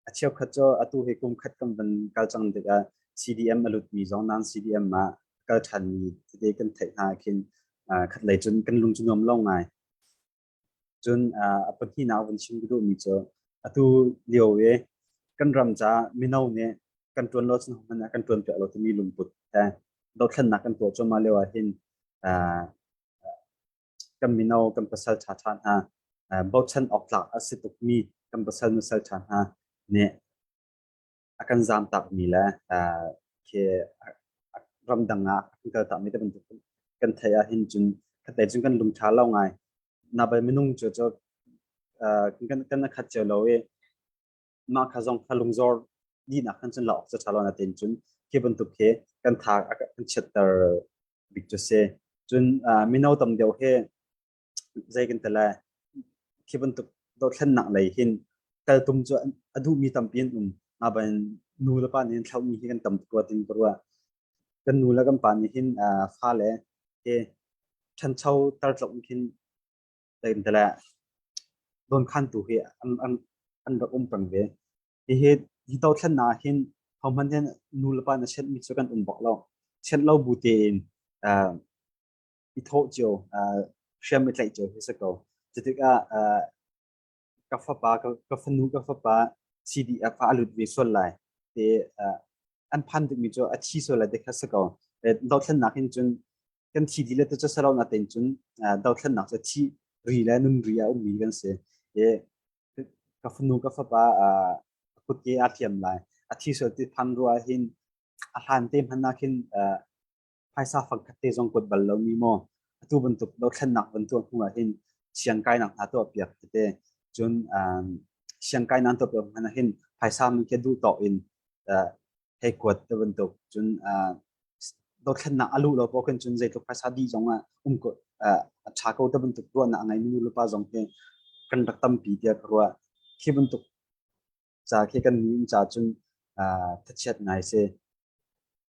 A cheukhat cu atu hi kum khat kan van kal cang tikah CDM a lutmi zong nan CDM ah a kal ṭhanmi tete kan theih hna ahkhin khatlei cun kan lung cu nuam lo ngai. Cun a pahnihnak vun chim ka duhmi cu atu lio i kan ram caah mino nih kan ṭuan lo cun hmanh ah kan ṭuan piak lo timi lungput he dothlennak kan tuah cuahmah lio ahhin kan mino kan pasal ṭha ṭha hna bochan awk tlak a si tukmi kan pasal nusal ṭha hna nih a kan zaamtakmi le khi ramdang ah kan kaltakmi te bantuk kan theih ahhin cun khatlei cun kan lung ṭha lo ngai na bai minung cu cu kan kan khat cio lo i mah kha zong kha lungzor dihnak khan cun la awk caṭha lo na tein cun khi bantuk khi kan thak a kan chiatter bik cu si cun mino tam deuh he zei kan tala khi bantuk dothlennak lei hin kal tum cu a duhmi tampi an um ma ban nu le pa nih thlaumi hi kan tam tuk ruat in ruwa kan nu le kan pa nih hin fa le ke ṭhancho tar tlok khin tlem te le donkhan tu hi an an an rak um pang ve hihi hi to thlen na hin homan hin nu le pa na chen mi chu kan um bak lo chen lo bu te in i tho cio hriam i tlaih cio hi se ko cutik ah ka fapa ka fanu ka fapa CDF ah a lut ve sual lai te an phan dukmi cu a thi sual lai te kha si ko dothlennak hin cun kan thi di le te cu sarau na ten cun dothlennak cu thi ri le nun ri a ummi kan si ka fanu ka fapa kutke a thiam lai a thi sual ti than ruah hin a hlan te hmannak hin phaisa fangkhat te zong kuat bal lomi maw atu bantuk dothlennak van tuah hnu ah hin siang kainak hna tuahpiak tete cun siang kainak tuahpiak hman ah hin phaisa min khi duh tawk in hei kuat te bantuk cun dothlennak a luh lo paoh khin cun zeitluk phaisa di zong ah um ko a tha ko te bantuk ruahnak a ngeimi nu le pa zong hi kan rak tampi tiah ka ruah khi bantuk ca khi kan nih ca cun thachiat ngai si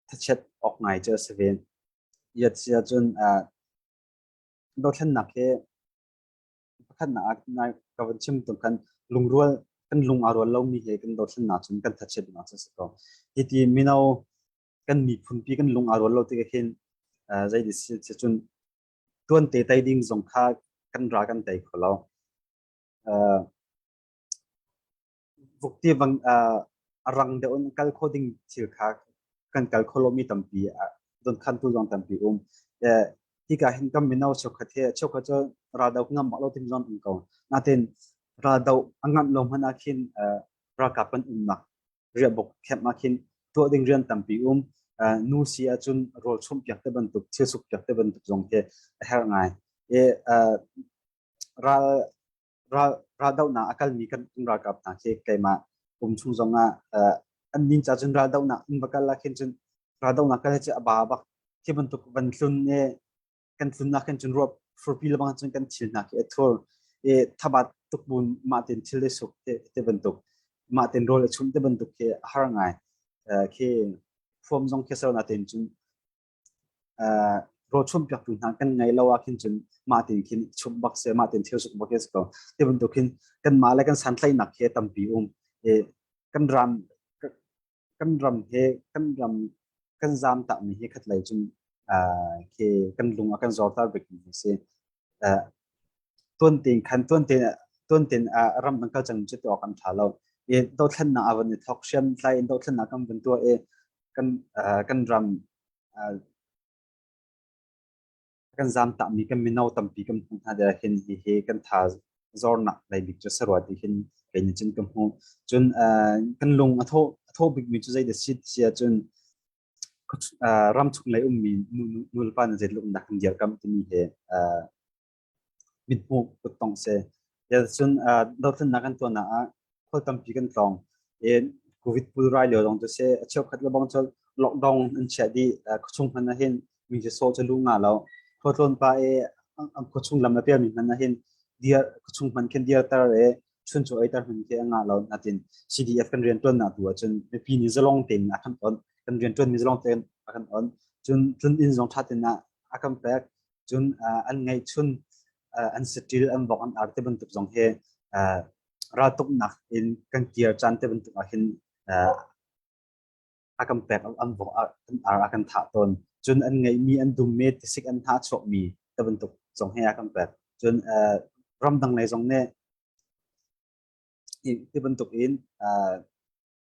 thachiat awk ngai cu si ven yat sia cun dothlennak hi pakhatnak ah nai ka vun chim tuk kan lungrual kan lung a rual lomi he kan dothlennak cun kan thachiatnak cu si ko hi ti mino kan miphun pi kan lung a rual lo tik hin zei di si cun tuan te tai ding zong kha kan ra kan tai kho lo vuk ti bang a rang deuh in kal kho ding thil kha kan kal kho lomi tampi don khan tu zong tampi um hika hin kan mino chokhat he chokhat cho raldo ngam lo tim zon um ko natin raldo angam lo man akhin ralkap kan um na ria bok khep ma khin to ding rian tampi um nu si achun rol chum piak te bantuk thil suk piak te bantuk zong te her ngai e ral raldohnak a kalmi kan ralkap hna khi keimah kum chung zong ah an nin ca cun raldohnak in va kal ah khin cun raldohnak kal hi a ba bak khi bantuk van tlun e kan tlunnak khin cun ruap furpi lebang cun kan thil hna khi a thul e thabat tukbun ma tin thil le suk te te bantuk ma tin rol a chum te bantuk khi a har ngai khi fuam zong khi sarna tin cun rochun piaktu hna kan ngei lo ahkhin cun mah tin khin chumh bak se mah tin thil suk bak is ko ti bantuk hin kan mah le kan santlaihnak he tampi um kan ram kan ram he kan ram kan zam ta mi he khatlei cun ke kan lung a kan zor ta bik mi si tuan tein khan tuan tein tuan tein ram an kal cang cu tuah kan tha lo i dothlennak a van i thok hriam tlai in dothlennak kan van tuah i kan kan ram kan zam ta mi kan mino tampi kan hmu hna de hin hi hi kan tha zornak lei bik chu sarwa ti hin kei ni chin ka hmu cun kan lung a tho a tho bik mi chu zei da si sia cun ramchung lei ummi nulepa nih zeitluk in dah kan dirkamh timi hi mithmuh tuk tong si. Cun dothlennak kan tuahnak ah khual tampi kan tlawng. Covid pulrai lio lawng cu si a cheukhat le bang cu lockdown an chiah dih. Khuachung hmanh ah hin mi cu sawh cu lu nga lo. Khua tlawn pa i khuachung lam a pialmi hmanh ah hin khuachung hmanh khin dirter i chun cu eiter hmun ke nga lo natin CDF kan rian tuan na tu ahcun mipi nih zalong tein a kan on kan rian tuan mi zalong tein a kan on cun cun in zong thatin na a kan pek cun an ngai chun an sitil an vok an ar te bantuk zong he ral tuk nak in kan tier chan te bantuk ah hin a kan pek an vok ar a kan thah tawn cun an ngeihmi an dummi tisik an hna chuakmi te bantuk zong he a kan pek cun ramdang lei zong nih ti bantuk in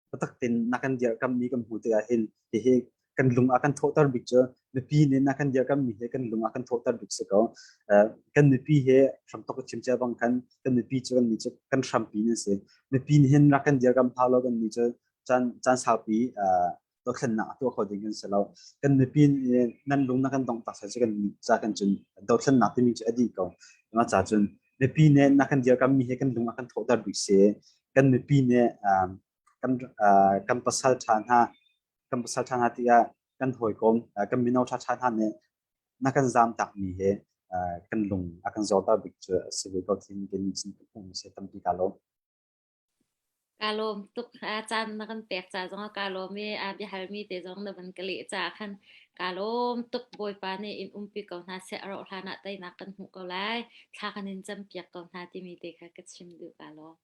biatak tin nakan dirkammi kan hmu tikah hin hihi kan lung a kan thawhter bik cu nupi nih nakan dirkammi hi kan lung a kan thawhter bik si ko kan nupi he hram tok chim cha bang khan kan nupi cu kan ni cu kan hrampi ni si nupi nih hin nakan dirkam hau lo kan ni cu caan caan saupi dothlennak a tuah kho ding kan si lo kan mipi nan lung na kan dongh tak sai kan ca kan cun dothlennak timi cu a di ko nga ca cun mipi ne na kan dir kam mi he kan lung a kan thawhter bik se kan mipi ne kan kan pasal tha hna kan pasal tha hna tiya kan hoi kom kan mino tha tha hna ne na kan zam tak mi he kan lung a kan zor ta bik cu si ve ko thin kin chin phu se tampi ka lo Kaa lawm tuk. Aa caan na kan pek ca zongah kaa lawm i aa biahalmi te zong na van ka leh caah khan kaa lawm tuk. Bawipa nih in umpi ko hna seh. A rauh hlanah teinak kan hmuh ko lai. Thla kan in campiak ko hna timi te kha ka chim duh. Kaa lawm.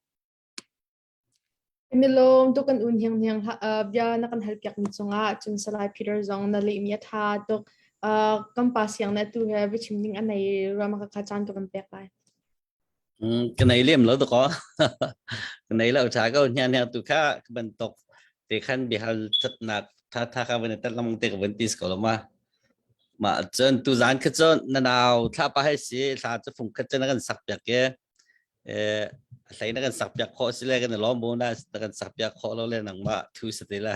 Kan i lawm tuk kan un hnianghniang hlah. Uh, bia na kan hal piakmi cungah cun Salai Peter zong na lehmi a tha tuk. Uh, kan pa siang na tu nge biachim ning a nei ruam a ka caan ka van pek lai. Mm, ka nei lem lo ko ka nei lo tha ko hnya hnya tu kha ka ban tok te khan bihal that nak tha tha ka ban tak lam te ka ban tis ko lo ma ma chon tu zan kha chon na naw thla pa hai si thla chu phung kha chen kan sak pyak ke eh thlai na kan sak pyak kho si le kan lom bo na kan sak pyak kho lo le nang ma thu sa te la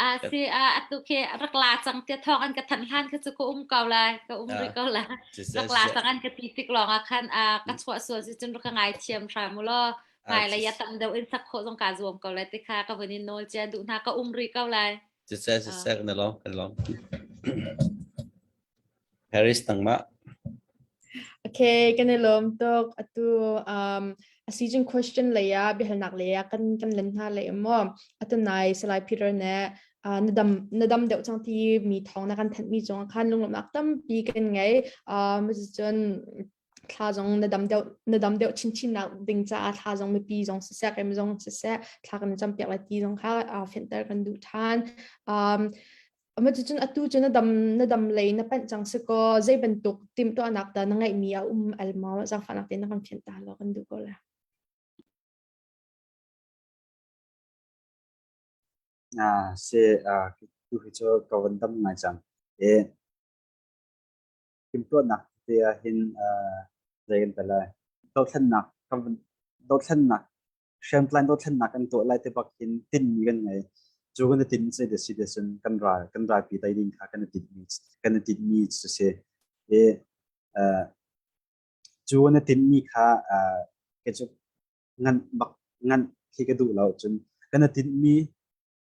Ah si ah atu khi rak la cang tia thawng an ka thanh hlan kha cu ka um ko lai ka um rih ko lai rak la cang an ka ti tik lawng ah khan a ka chuah sual si cun ka ngai thiam hram u law ngai la ya tam deuh in sak khawh zong ka zuam ko lai te kha ka vun in nawl chia duh hna ka um rih ko lai cucai cucai kan lom kan lom Paris tangmah. Okay, kan i lawm tuk. Atu um, a season question lei ah biahalnak lei ah kan kan len hna lei maw. Atu nai Salai Peter ne uh, na dam na dam deuh cang ti mi thawng na kan thanh mi cung khan lunglomnak tampi kan ngei. Um, cun thla zong na dam deuh na dam deuh chin chin nak ding caah thla zong mipi zong sisek em zong sisek thla kan cam piak la ti zong kha uh, fentar kan duh than um, Amacun atu cu na dam na dam lei na panh cang si kaw zei bantuk timhtuahnak dah na ngeihmi a um al maw zangfahnak tein na kan thianh ta lo kan duh ko le. Ah, se ah tu hi cho ka wan dam ngai cang. E timhtuahnak te ah hin ah zei kan tala dothlannak ka dothlannak hriamtlai dothlennak kan tuah lai te bak in tinmi kan ngei. Cu kan i tin si te si te cun kan ral kan ralpi tai ding kha kan i tinmi kan i tinmi cu si. E cu kan i tinmi kha ke cu nganh bak nganh khi ka duh lo cun kan i tinmi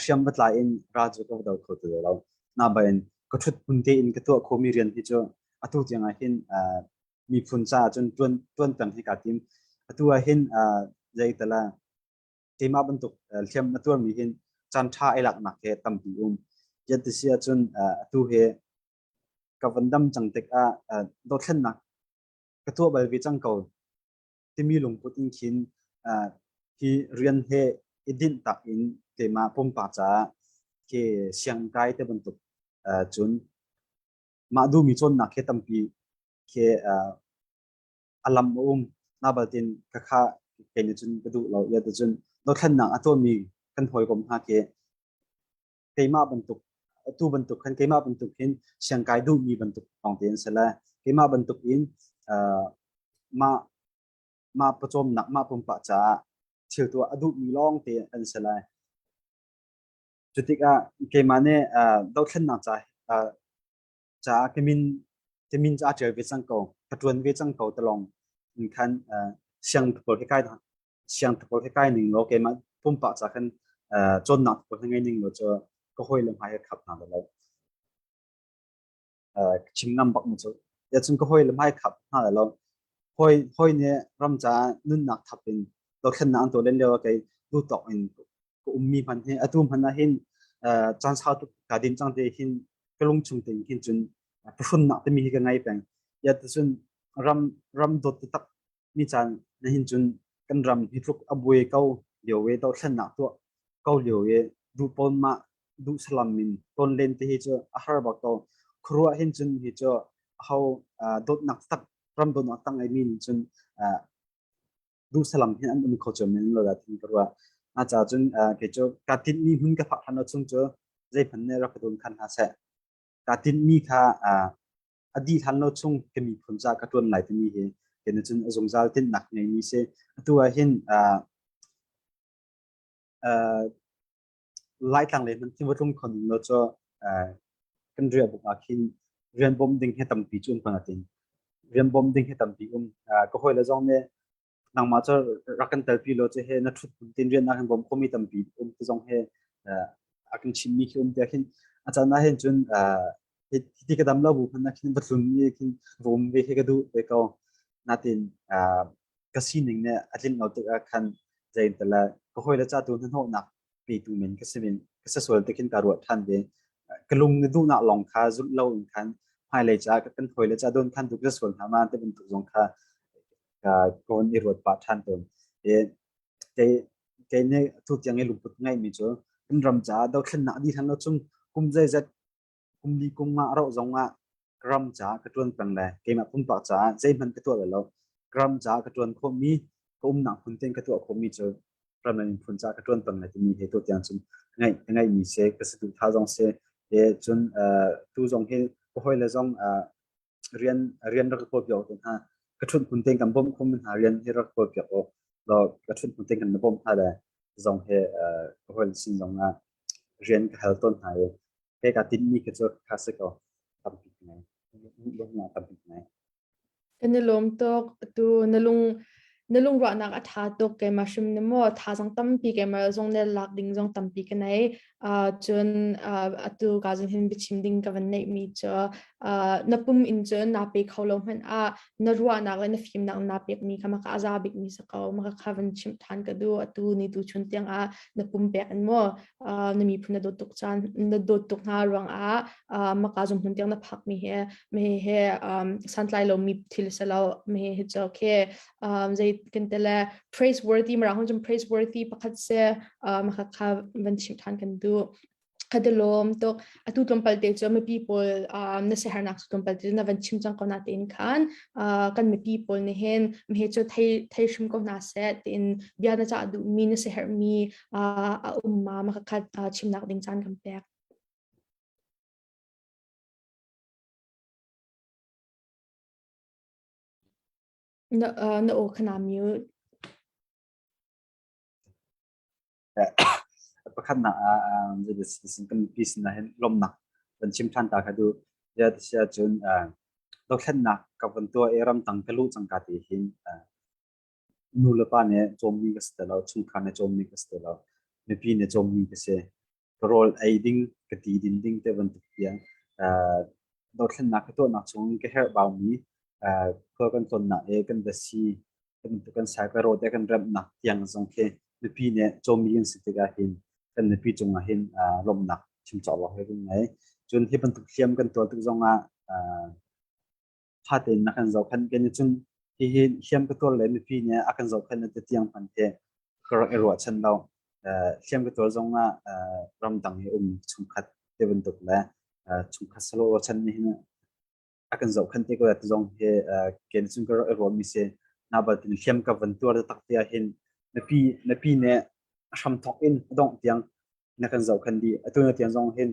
hriam va tlai in ra cu ka do kho ti lo na ba in ka thut pun te in ka tuah khomi rian hi cu atu tiang ah hin miphun caah cun tuan tuan peng hi ka tim atu ah hin zeitala keimah bantuk hliam na tuarmi hin chan tha ai laknak he tampi um yet ti si ahcun atu he ka van dam cang tik ah dothlennak ka tuah bal ve cang ko timi lungput in khin hi rian he i dinh tak in keima pumpak ca ke siang kai te bantuk cun mah du mi cawnnak he tampi ke alam um na baltin ka kha ke ni cun ka du lo ya te cun no thlannak a to mi kan hoi kom ha ke keimah bantuk tu bantuk khan keimah bantuk hin siangkai duhmi bantuk lawngte an si le keimah bantuk in mah mah pawcawmnak mah pumpak caah thil tu a duhmi lawngte an si le cu tikah keimah nih dothlennak ca caah kemin kemin ca ṭial ve cang ko ka ṭuan ve cang ko talong in khan siang tukol hi kai siang tapol he kai ning law keimah pumpak ca kan chonnak tapol he ngai ning lo cu ka hoi le hmai he khap na lo chim ngam bak mu cu ya chung ka hoi le hmai khap na lo hoi hoi ne ram ca nun nak thap in lo khen na an to len lewa kai lu tok in ko ummi man he atu man na hin chan sa tu ka dim chang te hin ka lung chung tin kin chun phushun nak te mi hi ka ngai peng ya to sun ram ram dot tak mi caan na hin cun kan ram hi tluk a buai ko lio e dothlennak tuah ko lio e du pon ma du salam min ton len te hi chu a har ba ko khruwa hin cun hi chu ho dot nak tak ram don nak tang ai min cun du salam hin an um kho chom min lo da thin khruwa a cha cun ke chu ka tin mi mun ka phak han chung chu zai phan ne rak dun khan ha se ka tin mi kha a dih hlan lo chung ka miphun ca ka ṭuan lai timi hi kene cun a zungzal tinhnak ngeimi si atu ah hin laitlang le hman thimatlung khon lo cho kan riah buk ah khin rian bom ding he tampi cun pan atin rian bom ding he tampi um ka hoi la zong ne nangmah cu rak kan telpi lo che he na thut tin rian nak hin bawm khomi tampi um te zong he a kan chim mi khi um te khin a can na hin cun hi ka dam lo bu phan na khin batlun ni khin rom ve he ka du ve ko natin ka sining ne atling lo tik khan jain tala ka hoi la cha tu na no nak pi tu min ka simin ka sa sual te khin ka ru than ve ka lung ni du na long kha zul lo in khan hai le cha ka kan hoi le cha don khan duk ka sual na ma te bin tu zong kha kawn i ruat pah ṭhan tawn. I kei kei nih tutiang i lungput ngeihmi cu kan ram caah dothlennak a dih hlan lo chung kum zeizat kum li kum nga a rauh zong ah ka ram caah ka ṭuan peng le keimah pumpak caah zeihmanh ka tuah bal lo. Ka ram caah ka ṭuan khawhmi, ka umnak hmun tein ka tuah khawhmi cu ram le miphun caah ka ṭuan peng le timi hi tutiang cun ka ngeih ka ngeihmi si, ka saduhthah zong si, cun tu zong hi ka hawile zong rian rian rak kawl piak awk hna ka chun kun ten kan bom khum hna rian hi rak kawl piak awk lo ka chun kun ten kan bom hna le zong he ka hol sin zong na rian ka hal ton hna e he ka tin mi ka chu kha se ko tampi ngai bom na tampi ngai na lom tok tu na lung na lungruahnak a ṭha tuk keimah hrim na maw thazang tampi keimah zong ne lak ding zong tampi ka nei cun atu ka zong hin biachim ding ka van neih mi cu na pum in cun naa pe kho lo hmanh ah na ruahnak le na fimnak naa pek mi kha maka a za bik mi sa ko maka kha van chimh ṭhan ka du atu ni tu chun tiang ah na pum pek an maw na miphun na dawt tuk caan na dawt tuk hna ruang ah maka zum hun tiang na phak mi he me he santlai lo mi thil se lo me he cho khe zei ken te le praiseworthy mara hon jum praiseworthy pakhat se maka kha van chim than kan du khadalom to atu tlumpal te chu mi people na se harnak su tlumpal te na van chim chang ko na tin khan kan mi people ne hen me he chu thai thai shim ko na se tin bia na cha du mi na se her mi a um ma makhat chimnak ding caan kan pek. Na na aw khana mute. pakhatnak ah sin kan pi sin hin lomnak kan chim than ta kha du ya ti sia chun dothlennak ka kan tua e ram tang ka lu chang ka ti hin nulepa nih cawmmi ka si ti lo, chungkhar nih cawmmi ka si ti lo, mipi nih cawmmi ka si. Ka rawl ei ding, ka ti din ding te bantuk tiang uh, dothlennak ka tuahnak chung in ka herhbaumi uh, khua kan tonnak e kan dasi kan kan sai ka rawte kan remnak tiang zong khi mipi nih cawmmi kan si tikah hin kan mipi cungah hin uh, lomnak chim cawk lo he kan ngei. Cun hi bantuk hliam kan tuah tik zongah uh, fate in a kan zohkhenh kan i cun hihi hliam ka tuar le mipi nih a kan zohkhenh le ti tiang hman te ka rak i ruahchan lo hliam ka tuar zong ah ramdang i um chungkhat te bantuk le chungkhat salo chan ni hin a kan zohkhenh te ko te zong hi ken cun ka rak i ruah mi si na batin hliam ka van tuar tak te ah hin napi napi ne a hramthawk in a dongh tiang na kan zohkhan dih atu na tiang zong hin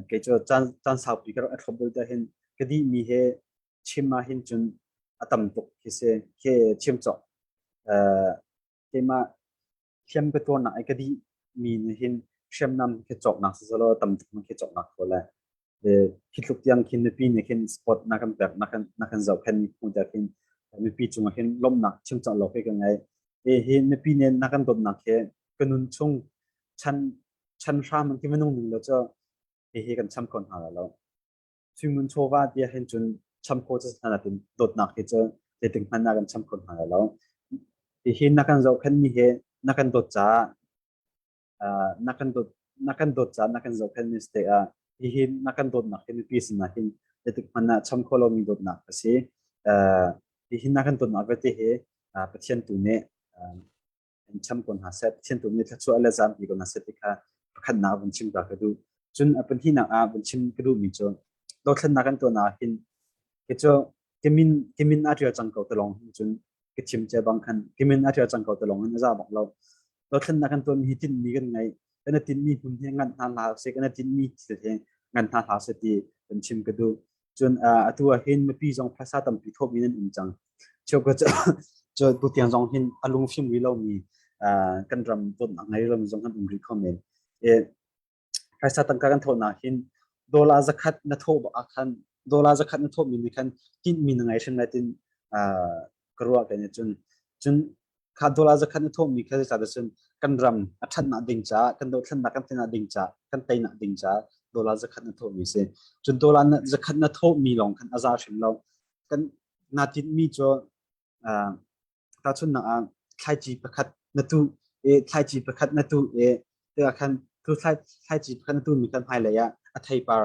kei cu caan caan saupi ka rak thlop dul ta hin ka di mi he chim ma hin cun a tam tuk khi se ke chim chok keima thiam ka tuar nak ai ka di mi ne hin hriamnam ke chok nak sasalo tam tuk ma ke chok nak ko le Hi tluk tiang khin mipi nih khin sport na kan pek na kan na kan zohkhen mi hmuh der khin mipi cungah khin lawmnak chimcah lo ke ka ngei hi mipi nih na kan dawtnak he ka nun chung chan chan hram ki minung ning lo cha hi kan cham ko hna lo suimun chova dia hin chun cham ko cha na tin dawtnak he cha te ting hman na kan cham ko hna lo hi na kan zohkhen mi he na kan dawt cha na kan dawt na kan dawt caan na kan zohfelmi si tikah hihi na kan dawtnak hi mipi sinah hin zeitik hmanh ah cham kho lomi dawtnak a si hihi na kan dawtnak vialte hi pathian tu nih in cham ko hna seh pathian tu nih thluachuah le zampi ko hna seh ti kha pakhatnak vun chim ta ka duh cun a pahnih nak ah vun chim ka duhmi cu dothlennak kan tuahnak hin ke cu ka min ka min a ṭial cang ko te lawng cun ka thim cia bang khan ka min a ṭial cang ko te lawng in a za bak lo dothlennak kan tuan mi hi tinhmi kan ngei kan i tinhmi hmun hi nganh hna hla se kan i tinhmi thil hi nganh hna hla se ti kan chim ka duh cun atu ah hin mipi zong phaisa tampi thawmi nan um cang cheu ka cu tu tiang zong hin a lung fim wi lomi kan ram ton a ngei lomi zong kan um rih kho men phaisa tangka kan thawn ahhin dollar zakhat na thawh bak ah khan dollar zakhat na thawhmi nih khan tinhmi na ngei hrim lai tin ka ruah kan cun cun kha dollar zakhat na thawhmi kha zeicah cun kan ram a ṭhatnak ding caah kan dothlennak kan teinak ding caah kan teinak ding caah dollar zakhat na thawhmi si cun dollar zakhat na thawhmi lawng khan a za hrim lo kan naa tinhmi cu Tahchunhnak ah, thlaici pakhat na tuh i thlaici pakhat na tuh i tikah khan tu thlai, thlaici pakhat na tuhmi kan hmailei ah a theipar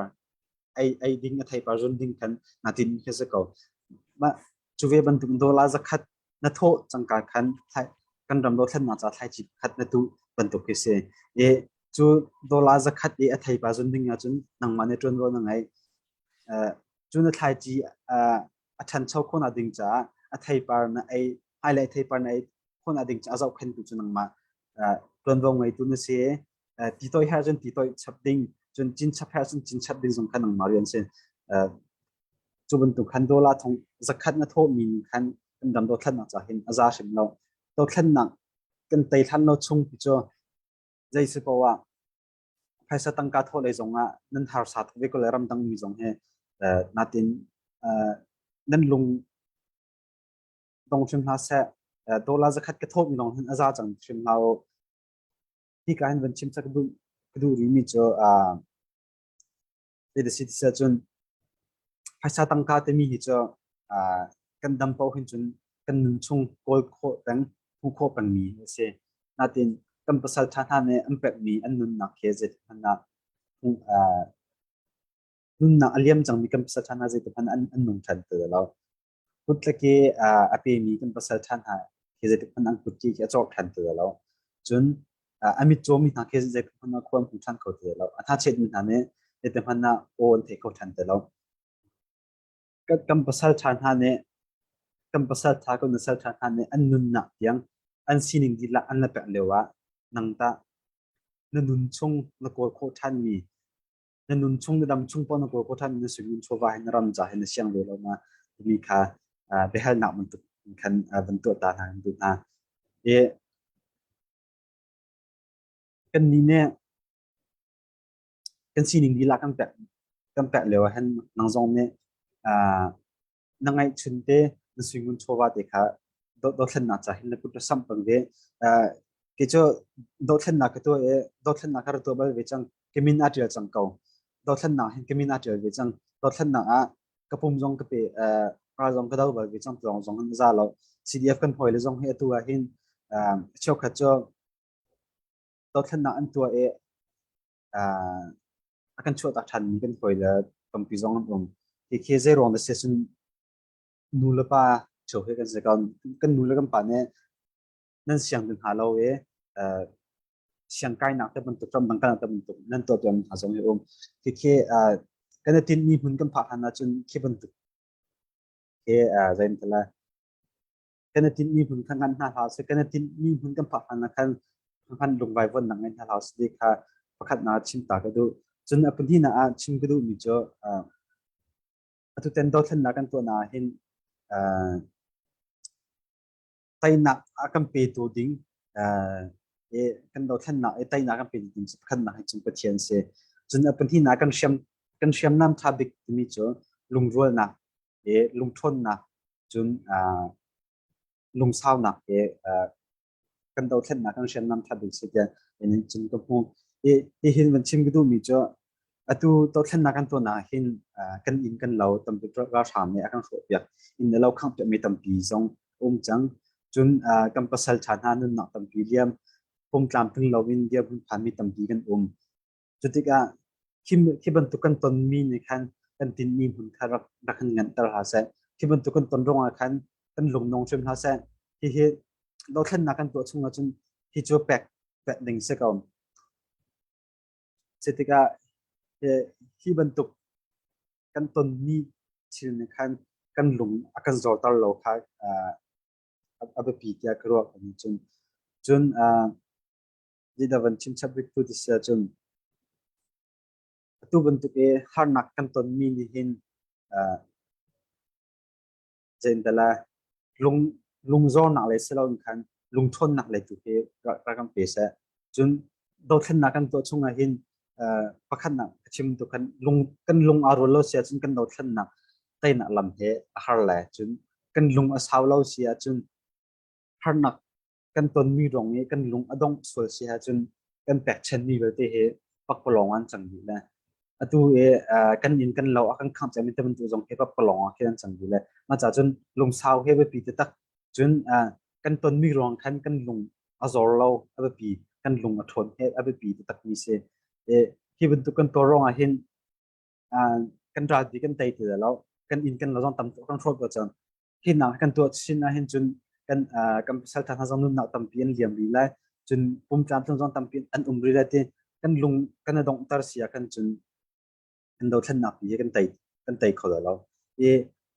ei, ei ding, a theipar zun ding khan naa tinmi khi a si ko. Mah cu ve bantuk dawla zakhat na thawh cangka khan thlai, kan ram dothlennak ca thlaici pakhat na tuh bantuk khi si. I cu dawla zakhat i a theipa zun ding ahcun nangmah nih ṭuanvo na ngei. Uh, cu na thlaici uh, a ṭhancho khawhnak ding caah a theipar na ei hmailei theipar na ei khawhnak ding caah zohkhentu cu nangmah ṭuanvo ngeitu na si ti toih her cun ti toih chap ding cun cin chap her cun cin chap ding zong kha nangmah rian si cu bantuk khan dola thong zakhat na thawhmi khan kan dam dothlannak ca hin a za hrim lo dothlannak kan tei hlan lo chung pi cu zei si poah phaisa tangka thawh lei zongah nan harsa tuk ve ko le ramdangmi zong he natin nan lung dong hrim hna seh dollar zakhat ka thawhmi lawng hin a za cang hrim hna u hi ka hin van chim chak ka duh rimi cu Zeidasi ti seh cun phaisa tangka timi hi cu kan dam paoh hin cun kan nun chung kawl khawh peng hmuh khawh pengmi a si. Natin kan pasal ṭha hna nih an pekmi an nunnak he zeitik hmanh ah nunnak a liam cangmi kan pasal ṭha hna zeitikhmanh an nung ṭhan ti lo. Kut le ke a pemi kan pasal ṭhan hna khi zeitikhmanh an kut khi a cawk ṭhan ti lo. Cun a mitcaw mi hna khi zeitikhmanh ah khua an hung ṭhan kho ti lo. A hnachet mi hna nih zeitikhmanh ah aw an theih kho ṭhan ti lo. Kan pasal ṭha hna nih kan pasal ṭha kan nasal ṭha hna nih an nunnak tiang an sining dihlak an la pek lio ah nang tah na nun chung na kawl khawh ṭhanmi na nun chung na dam chung pawl na kawl ko than na sui nun chawva hi na ram ca hi na siang ve lo na mi kha biahalnak bantuk khan van tuah ta hna kan duh hna e kan ni ne kan sining lila kan pek kan pek leo hen nang zong ne na ngaihchun te na suingun chawva te kha dothlennak ca hin na kut ra sam pang ve ke cu dothlennak ka tu e dothlennak ka ra tu bal ve chang kemin a tial chang ko dothlennak hin kemin a tial ve chang dothlennak a ka pum zong ka pe ra zong ka dau bal ve chang zong zong za lo CDF kan hoi le zong hi atu a hin cheu khat cho dothlennak an tua e uh, a kan chuah tak ṭhan mi kan hawi le tampi zong an um. Hi khi zeiruang na si cun nu le pa ṭheo he kan si ko. Kan nu le kan pa nih nan siang ti hna lo i uh, siang kainak te bantuk ram dangkanak te bantuk nan tuah tuan hna zong hi um. Hi khi uh, kan i tin mi hmun kan phak hlan ahcun khi bantuk khi uh, zain tala kan i tinh mi hmun kha ngan hna hlah sih kan i tinh mi hmun kan phak hna khan khan lungvai von nang ngai hna hlah sih kha pakhat na chim ta ka du cun a pahnih na ah chim ka du mi chu atu ten do thlen na kan to na hin tainak a kan pe tu ding e kan do thlen na e tainak kan pe ding si khan na hai chim pathian se cun a pahnih na kan siam kan siam nam tha bik mi chu lungrual na i lungṭhawnnak cun lungsaunak i kan dothlennak kan hriamnam that ding si tiah in cun ka hmu i hi hin van chim ka duhmi cu atu dothlennak kan tuahnak ah hin kan inn kan lo tampi ralhrang nih a kan hrawhpiak inn le lo khangpiakmi tampi zong um cang cun kan pasal ṭha hna nunnak tampi liam pungtlam tling lo in dirhmun phanmi tampi kan um Cutikah khi, khi bantuk kan tonmi nih khan kan tinhmi hmun kha rak, rak kan nganter hlah seh. Khi bantuk kan ton ruangah khan kan lungnong hrim hlah seh. Hihi dothlennak kan tuah chung ahcun hi cu pek pek ding si ko. Cutikah hi bantuk kan tonmi thil nih khan kan lung a kan zorter lo kha a biapi tiah ka ruah ko cun cun nih da van chim chap rih tu ti si ahcun atu bantuk i harnak kan tonmi nih hin uh, zeintala lung lungzornak le siloin khan lungthawnnak le tu khi ra kan pe se cun dothlennak kan tuah chung ah hin pakhatnak chim tu kan lung kan lung a rul lo si ahcun kan dothlennak teinak lam he a har le cun kan lung a sau lo si ahcun harnak kan tonmi rong i kan lung a dongh sual si ahcun kan pekchanhmi vialte hi pakpalawng an cang dih le atu i kan inn kan lo a kan khangh cami te bantuk zong hi pakpalawng ah an cang dih le mah ca cun lungsau he biapi te tak cun kan tonmi ruang khan kan lung a zor lo a biapi kan lung a ṭhawn he a biapi te takmi si hi bantuk kan tuar ruang ah hin kan ral ti kan tei ti lo kan in kan zon tam kan hrawl pa cang hin nak kan tuah chin a hin cun kan kan pasal tha zong nun nak tampi an liam ri lai cun pum tlam tlung zon tampi an um ri lai ti kan lung kan dong tar sia kan cun kan do thlen nak pi kan tei kan tei kho lo i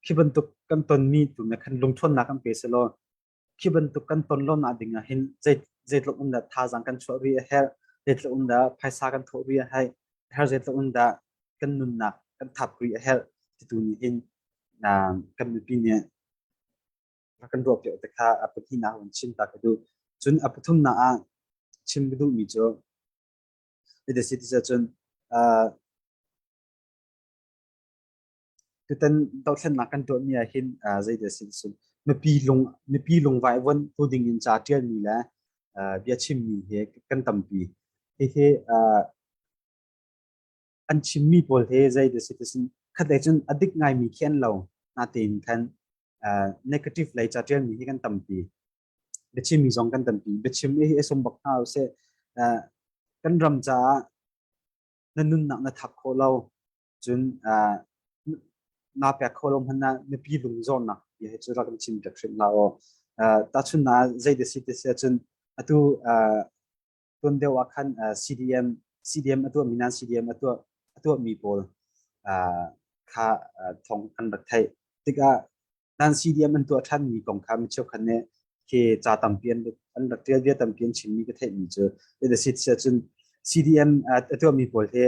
khi bantuk kan ton mi tu na kan lung thon nak kan pe selo khi bantuk kan ton lo na ding ah hin zeitluk um dah thazaang kan chuah rih a herh zeitluk um dah phaisa kan thawh rih a hai har zeitluk um dah kan nunnak kan thap rih a herh titu nih hin kan mipi nih kan ruak te kha a pahnih nak wan chin ta ka du cun a pathum na ah chim ka duh mi cu ita si ti cun Tutan dohthlennak kan tuahmi ah hin uh, zeidah a si sun mipi lung mipi lungvai von tu ding in ca ṭialmi le uh, bia chimmi hi kan tampi. Hihi uh, an chimmi pawl hi zeidah a si ti sin khatlei cun a dik ngaimi khi an lo natein khan uh, negative lei ca ṭialmi hi kan tampi. Biachimmi zong kan tampi. Biachim hi sum bak hna usih uh, kan ram caah na nunnak na thak khawh lo cun naa pek kho lo hmanh ah mipi lungzawrnak bia hi cu rak in chim pek hrim hlah u. Tahchun na zei da si te si ahcun atu tuan deuh ah khan CDM CDM atuah mi nan CDM atuah atuah mi pawl kha thong an rak theih tikah nan CDM an tuah ṭhan mi kong kha mi cheukhat nih khi ca tampi an an rak ṭial vial tampi an chim mi ka theih mi cu adasit si ahcun CDM a tuah mi pawl hi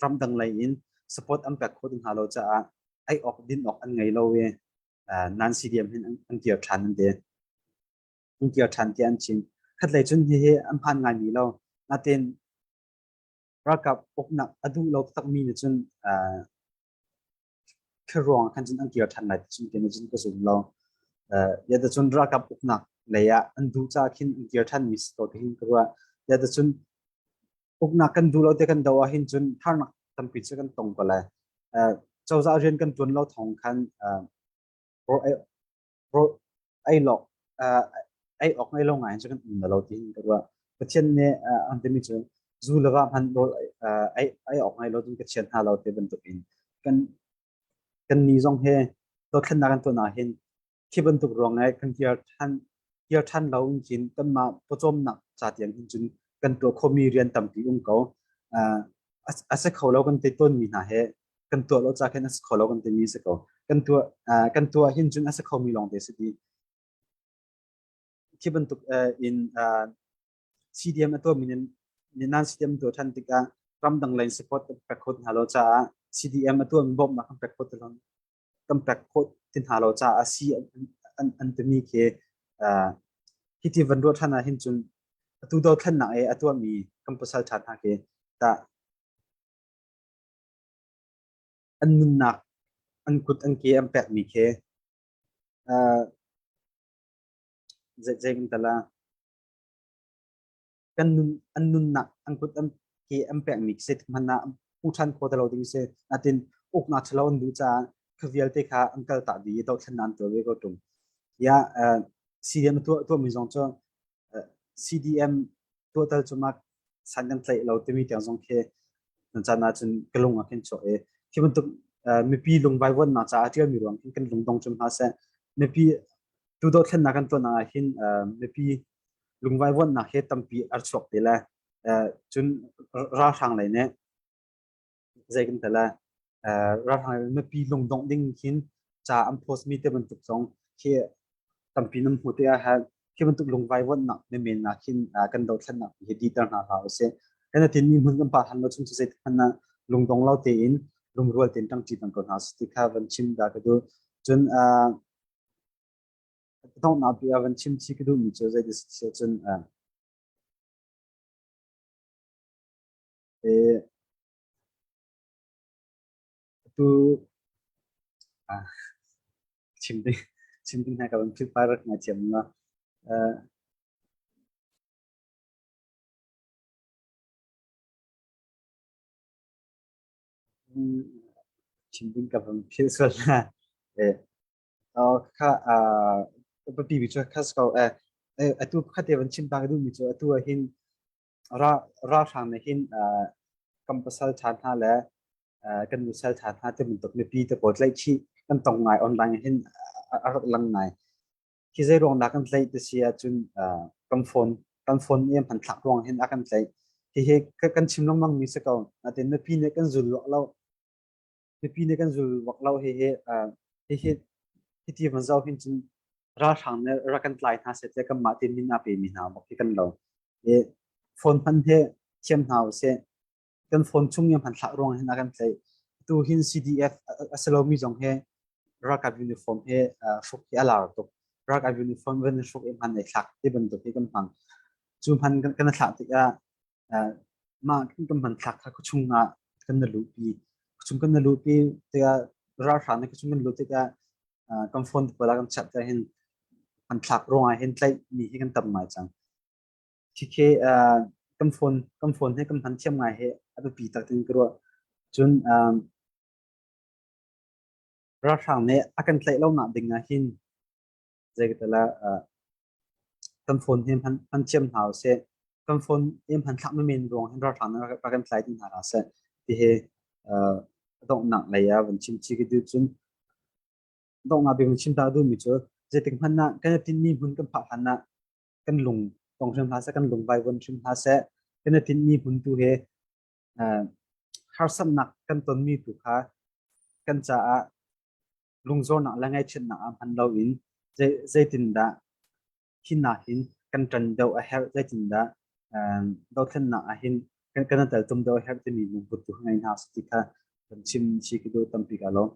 ramdang lei in support an pek kho tung hna lo caah ei awk din awk an ngei lo i nan CDM hin an kir ṭhan an ti an kir ṭhan ti an chim khat lei cun hihi an phan ngai mi lo natin ralkap uknak a duh lo takmi nih cun Thuruang ah khan cun an kir ṭhan lai ti cun cun ka zum lo. Uh, Yadacun ralkap uknak lei ah an duh ca khin an kir ṭhanmi si ko tihin ka ruah. Yadacun uknak kan duh lo te kan do ahhin cun harnak tampi cu kan tong ko lai. Uh, cozah rian kan ṭuan lo thawng khan uh, ei lawk ei awk ei lo ngaiin cu kan um lo ti in ka ruah Pathian nih an timi cu zu le va hman rawl ei awk ngai lo cun ka thian hna lo ti bantuk in kan kan ni zong he dothlennak kan tuan ah hin khi bantuk ruang ai kan kir than kir than lo in kin kan ma pawcawm nak cha tiang hin cun kan tuah khomi rian tampi um ko a se kho lo kan te ton mi hna he kan tuah lo ca khin a si kho lo kan timi si ko kan tuah kan tuah hin cun a si khomi lawng te si ti khi bantuk in CDM a tuahmi ni nan CDM tuah ṭhan tikah ramdang lei support pek khawt hna lo caah CDM a tuahmi bawmhnak kan pek khawt lo kan pek khawt ti hna lo caah a si an timi khi hi ti van ruah ṭhan ah hin cun atu dothlannak e a tuahmi kan pasal ṭha hna khi tah an nunnak an kut an ke an pekmi khi uh, zeimantal ah kan nun an nunnak an kut an ke an pekmi khi hman ah pu than kho talo ding si natin uk na thalo an du cha kha vialte kha an kal ta di to thlan nan to ve ko tum ya uh, CDM tu tu mi zong cho CDM tu tal chuma san kan tlaih lo timi tiang zong khi nan caan ahcun ka lung ah khin chuah i khi bantuk mipi lungvai vuannak caah ṭialmi ruang khin kan lungdong cum hna seh mipi tu dothlennak kan tuan ah hin mipi lungvai vuannak he tampi ar chuak te le cun ralhrang lei nih zei kan tel lai ralhrang mipi lungdongh ding hin ca an post mi te bantuk zong khi tampi nan hmu te a hal khi bantuk lungvai vonnak me men na hin kan do thlan nak hi di ter na ha use kana tin mi mun kan pa han lo chung sei khan na lungdong lo te in rumrual ten tang chi tang ko na sti kha van chim da ka du chun dong na bi van chim chi ka du mi chu zai dis chun Atu chim ding hna ka van philh par nga thiam nga. Chim ding ka van philh sal na. Kha papi bi chu khas ko. Atu khate van chim ta ka dum mi chu atu ahin ralhrang nih hin kan pasal ṭha hna le kan nu sal ṭha hna ti bantuk mipi te pawl tlaih chih kan tong ngai online hin a rak lang ngai hi zei ruang dah kan tlaih ti si ahcun kan phone kan phone i hman thlak ruang hin a kan tlaih hihi kan chim lengmang mi si ko natin mipi nih kan zul lo mipi nih kan zul bak lo hehe hihi hiti van zau hin cun ralhrang nih rak kan tlai hna set le kan mah te min a pe mi hna bak hi kan lo e phone hman he thiam hna usih kan phone chung yang hman thlah ruang hin a kan tlai tu hin CDF a salomi zong he ralkap uniform he hruk hi a lar tuk ralkap uniform van hruk i hman nei thlak ti bantuk hi kan hmang cu hman kan thlah tik ah Mah kan hman thlak kha khuachung ah kan na luhpi. Khuachung kan na luhpi tiah ralhrang nih khuachung kan luh tikah kan phone te pawl ah kan chat te hin hman thlak ruang ah hin tlaih mi hi kan tam ngai cang. Khikhe kan phone kan phone he kan hman thiam ngai hi a biapi tak ding ka ruah. Cun ralhrang nih a kan tlaih lo nak ding ah hin zeital ah kan phone hi hman thiam hna u sih kan phone i hman thlak mi men ruang hin ralhrang rak kan tlai ding hna hna seh tihi donghnak lei ah van chim chi ki du cun donghnak bik chim ta du mi cu zeitik hman na kan tin mi hmun kan phah hlan na kan lung tong hrim hna seh kan lung vai von hrim hna seh kan tin mi hmun tu he harsamnak kan ton mi tu kha kan ca ah lungzawrnak le ngaihchiatnak ah hman loin zeitindah hi hna hin kan ṭan deuh a herh zeitindah dothlennak ah hin kan i teltum deuh a herh timi lungput tu ngei hna ti kha kan chim si ka duh tampi ka lawm.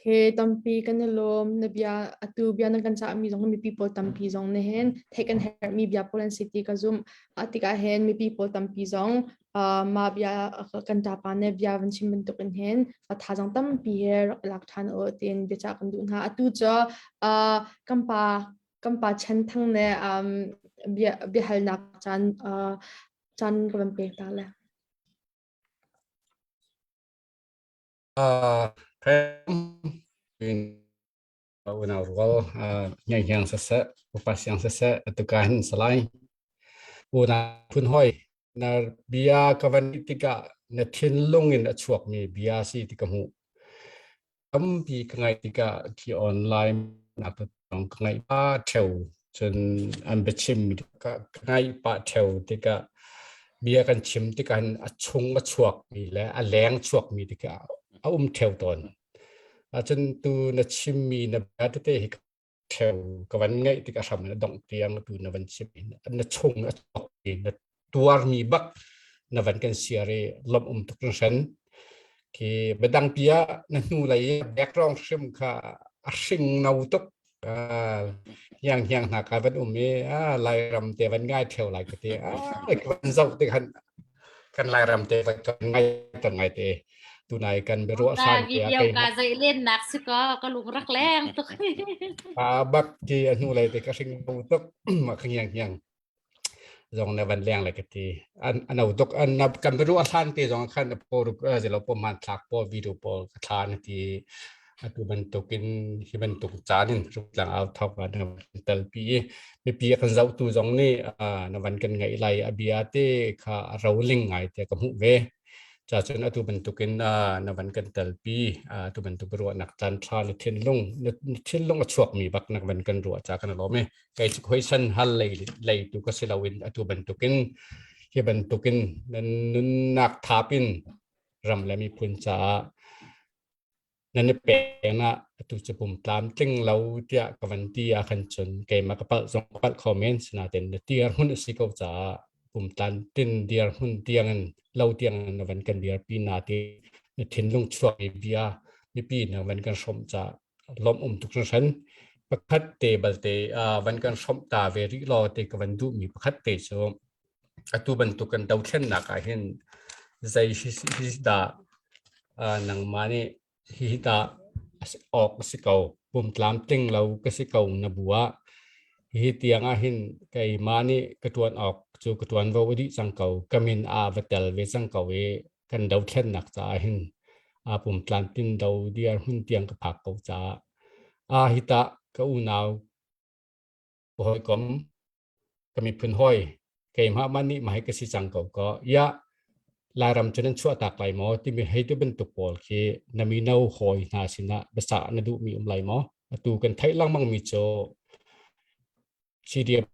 He tampi kan i lawm na bia atu bia nan kan cahmi zong mipi pawl tampi zong ne hen theih kan herhmi bia pawl an si ti ka zumh a tikah hen mipi pawl tampi zong mah bia kan ṭapa nih bia van chim bantukin hin thazang tampi he rak lak ṭhan u tiin biacah kan duh hna. Atu cu kan pa kan pa Chen Thang nih bia biahalnak caan caan ka van pek ta le. Kan unau rual ngeihiang saseh upa siang saseh atuka hin salai unau phun hoi na bia ka van tikah na thinlung in a chuakmi bia si ti ka hmuh tampi ka ngai tikah ki online na ka ngai pa theo cun an biachim ka ngai pa theo tikah bia kan chim tikah a chung a chuakmi le a leng chuakmi tikah a um theo tawn Ahcun tu na chimmi na bia tete hi ka thleng ka van ngaih tik a hram na dongh tiang tu na van chim na chung a chok i na tuarmi bak na van kan siar i lom um tuk hran khi biadangpi ah na hnu lei background hrim kha a hring no tuk Ah, hiang hiang hna ka van um i ah Lairam te van ngai theo lai ka ti. Ah, ka van zoh ti khan kan Lairam te van kan ngai tan ngai te. Tunai kan be ru san te a kai. Ka zai len nak si ko ka lung rak leng tuk. Ah bak ti a nu lai te ka hring bu tuk ma khang hiang hiang. zong na van leng le ka ti an an au duk an kan biru a hlang te zong khan po ru zelo po man thlak po video po ka thla na ti atu bantuk in hi bantuk caan in ruk lang au thok wa na tal pi mi pi kan zau tu zong ni na van kan ngai lai abia te kha rolling ngai te ka mu ve cha chun atu bantuk in na van kan tal pi tu bantuk ruwa nak tan tha na thin lung na thin lung a chuak mi bak nak van kan ruwa cha kan lo me kei cu khoisan hal lei lei tu ka si loin atu bantukin hi bantukin nunnak thap in ram le miphun caah nan i peng ah atu cu pum tlam tling lo tiah ka van ti ah khan cun keimah ka palh zong palh kho men sinaten na tiar hun si ko caah pum tlan tin dir hun tiang in lo tiang na van kan dir pi na ti na thinlung chuak i bia mipi na van kan hrom ca lom um tuk hran pakhat te balte van kan hrom ta ve ri lo te ka van duh mi pakhat te cu atu bantuk kan do thlen nak ah hin zai hi da nangma nih hi da ok si ko pum tlam tling lo ka si ko na bua hi tiang ah hin kei ma nih ka tuan ok cu ka tuan vo adi cang ko kamin a va tel ve cang ko i kan dothlennak caah hin aa pum tlantin do diar hmun tiang ka phak ko caah a hi ta ka unau ka hawikom ka miphun hoi keimah man nih mahai ka si cang ko ko ya lairam cu nan chuah tak lai maw timi hei tu bantuk pawl khi na mino hoi hna sinah basa na duh mi um lai maw atu kan theih langmang mi cu CDM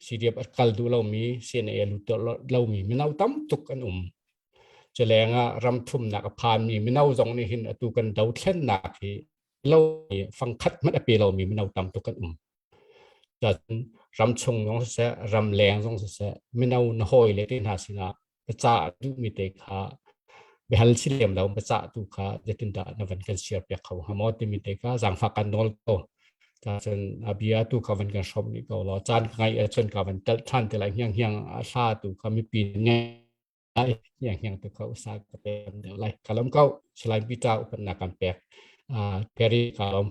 CDF a kal duh lomi CNA a lut lomi mino tam tuk an um culeng ah ram thumnak a phanmi mino zong nih hin atu kan dothlennak hi lo fangkhat hmanh a pe lomi mino tam tuk kan um ram chung zong siseh ram leng zong siseh mino na hawi le te hna sinah baca a duhmi te kha behal si lem lo baca tu kha zetindah na van kan share piak kho ha maw timi te kha zangfa kan nawl ko ta cun abia tu kha van kan shop ni ko lo chan ngai a chun ka van tel than te lai hiang hiang a sha tu kha mi pin ngai ai hiang hiang tu kha usa ka pe lai kalam ko silai bita upat na kan pek a peri kalom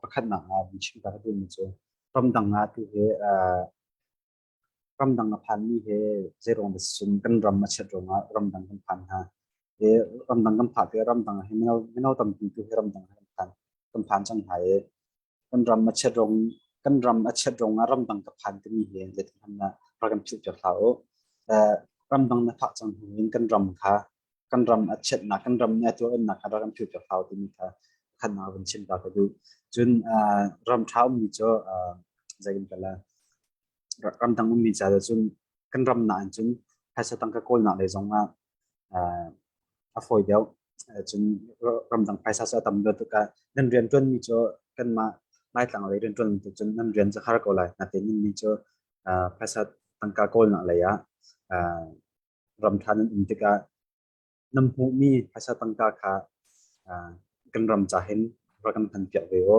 Pakhatnak ah kan chim ka duhmi cu ramdang ah tuhi ramdang a phanmi hi zeiruang dah sicun kan ram a chiat ruangah ramdang kan phan hna. Ramdang kan phak i ramdang ah hi mino tampi tuhi ramdang kan phan cang hna i kan ram a chiat rong kan ram a chiat rong ah ramdang ka phan timi hi zeiti hmanh ah rak in philh piak hlah u. Ramdang na phak cang hnu in kan ram kha kan ram a chiatnak kan ram a tuannak kha rak in philh piak hlah u timi kha khan ah van chim ta ka du. Cun ram ṭha ummi cu zei in kala ramdang ummi ca cun kan ram na in cun phaisa tang ka kawlnak le zong ah a fawi deuh. Cun ramdang phaisa cu a tam deuh tikah nan rianṭuanmi cu kanmah Laitlang lei rianṭuan bantuk cun nan rian cu har ko lai. Natein ni cu phaisa tangka kawlnak lei ah ramṭha nan um tikah nan hmuhmi phaisa tangka kha kan ram ca hin rak kan hmanpiak ve u.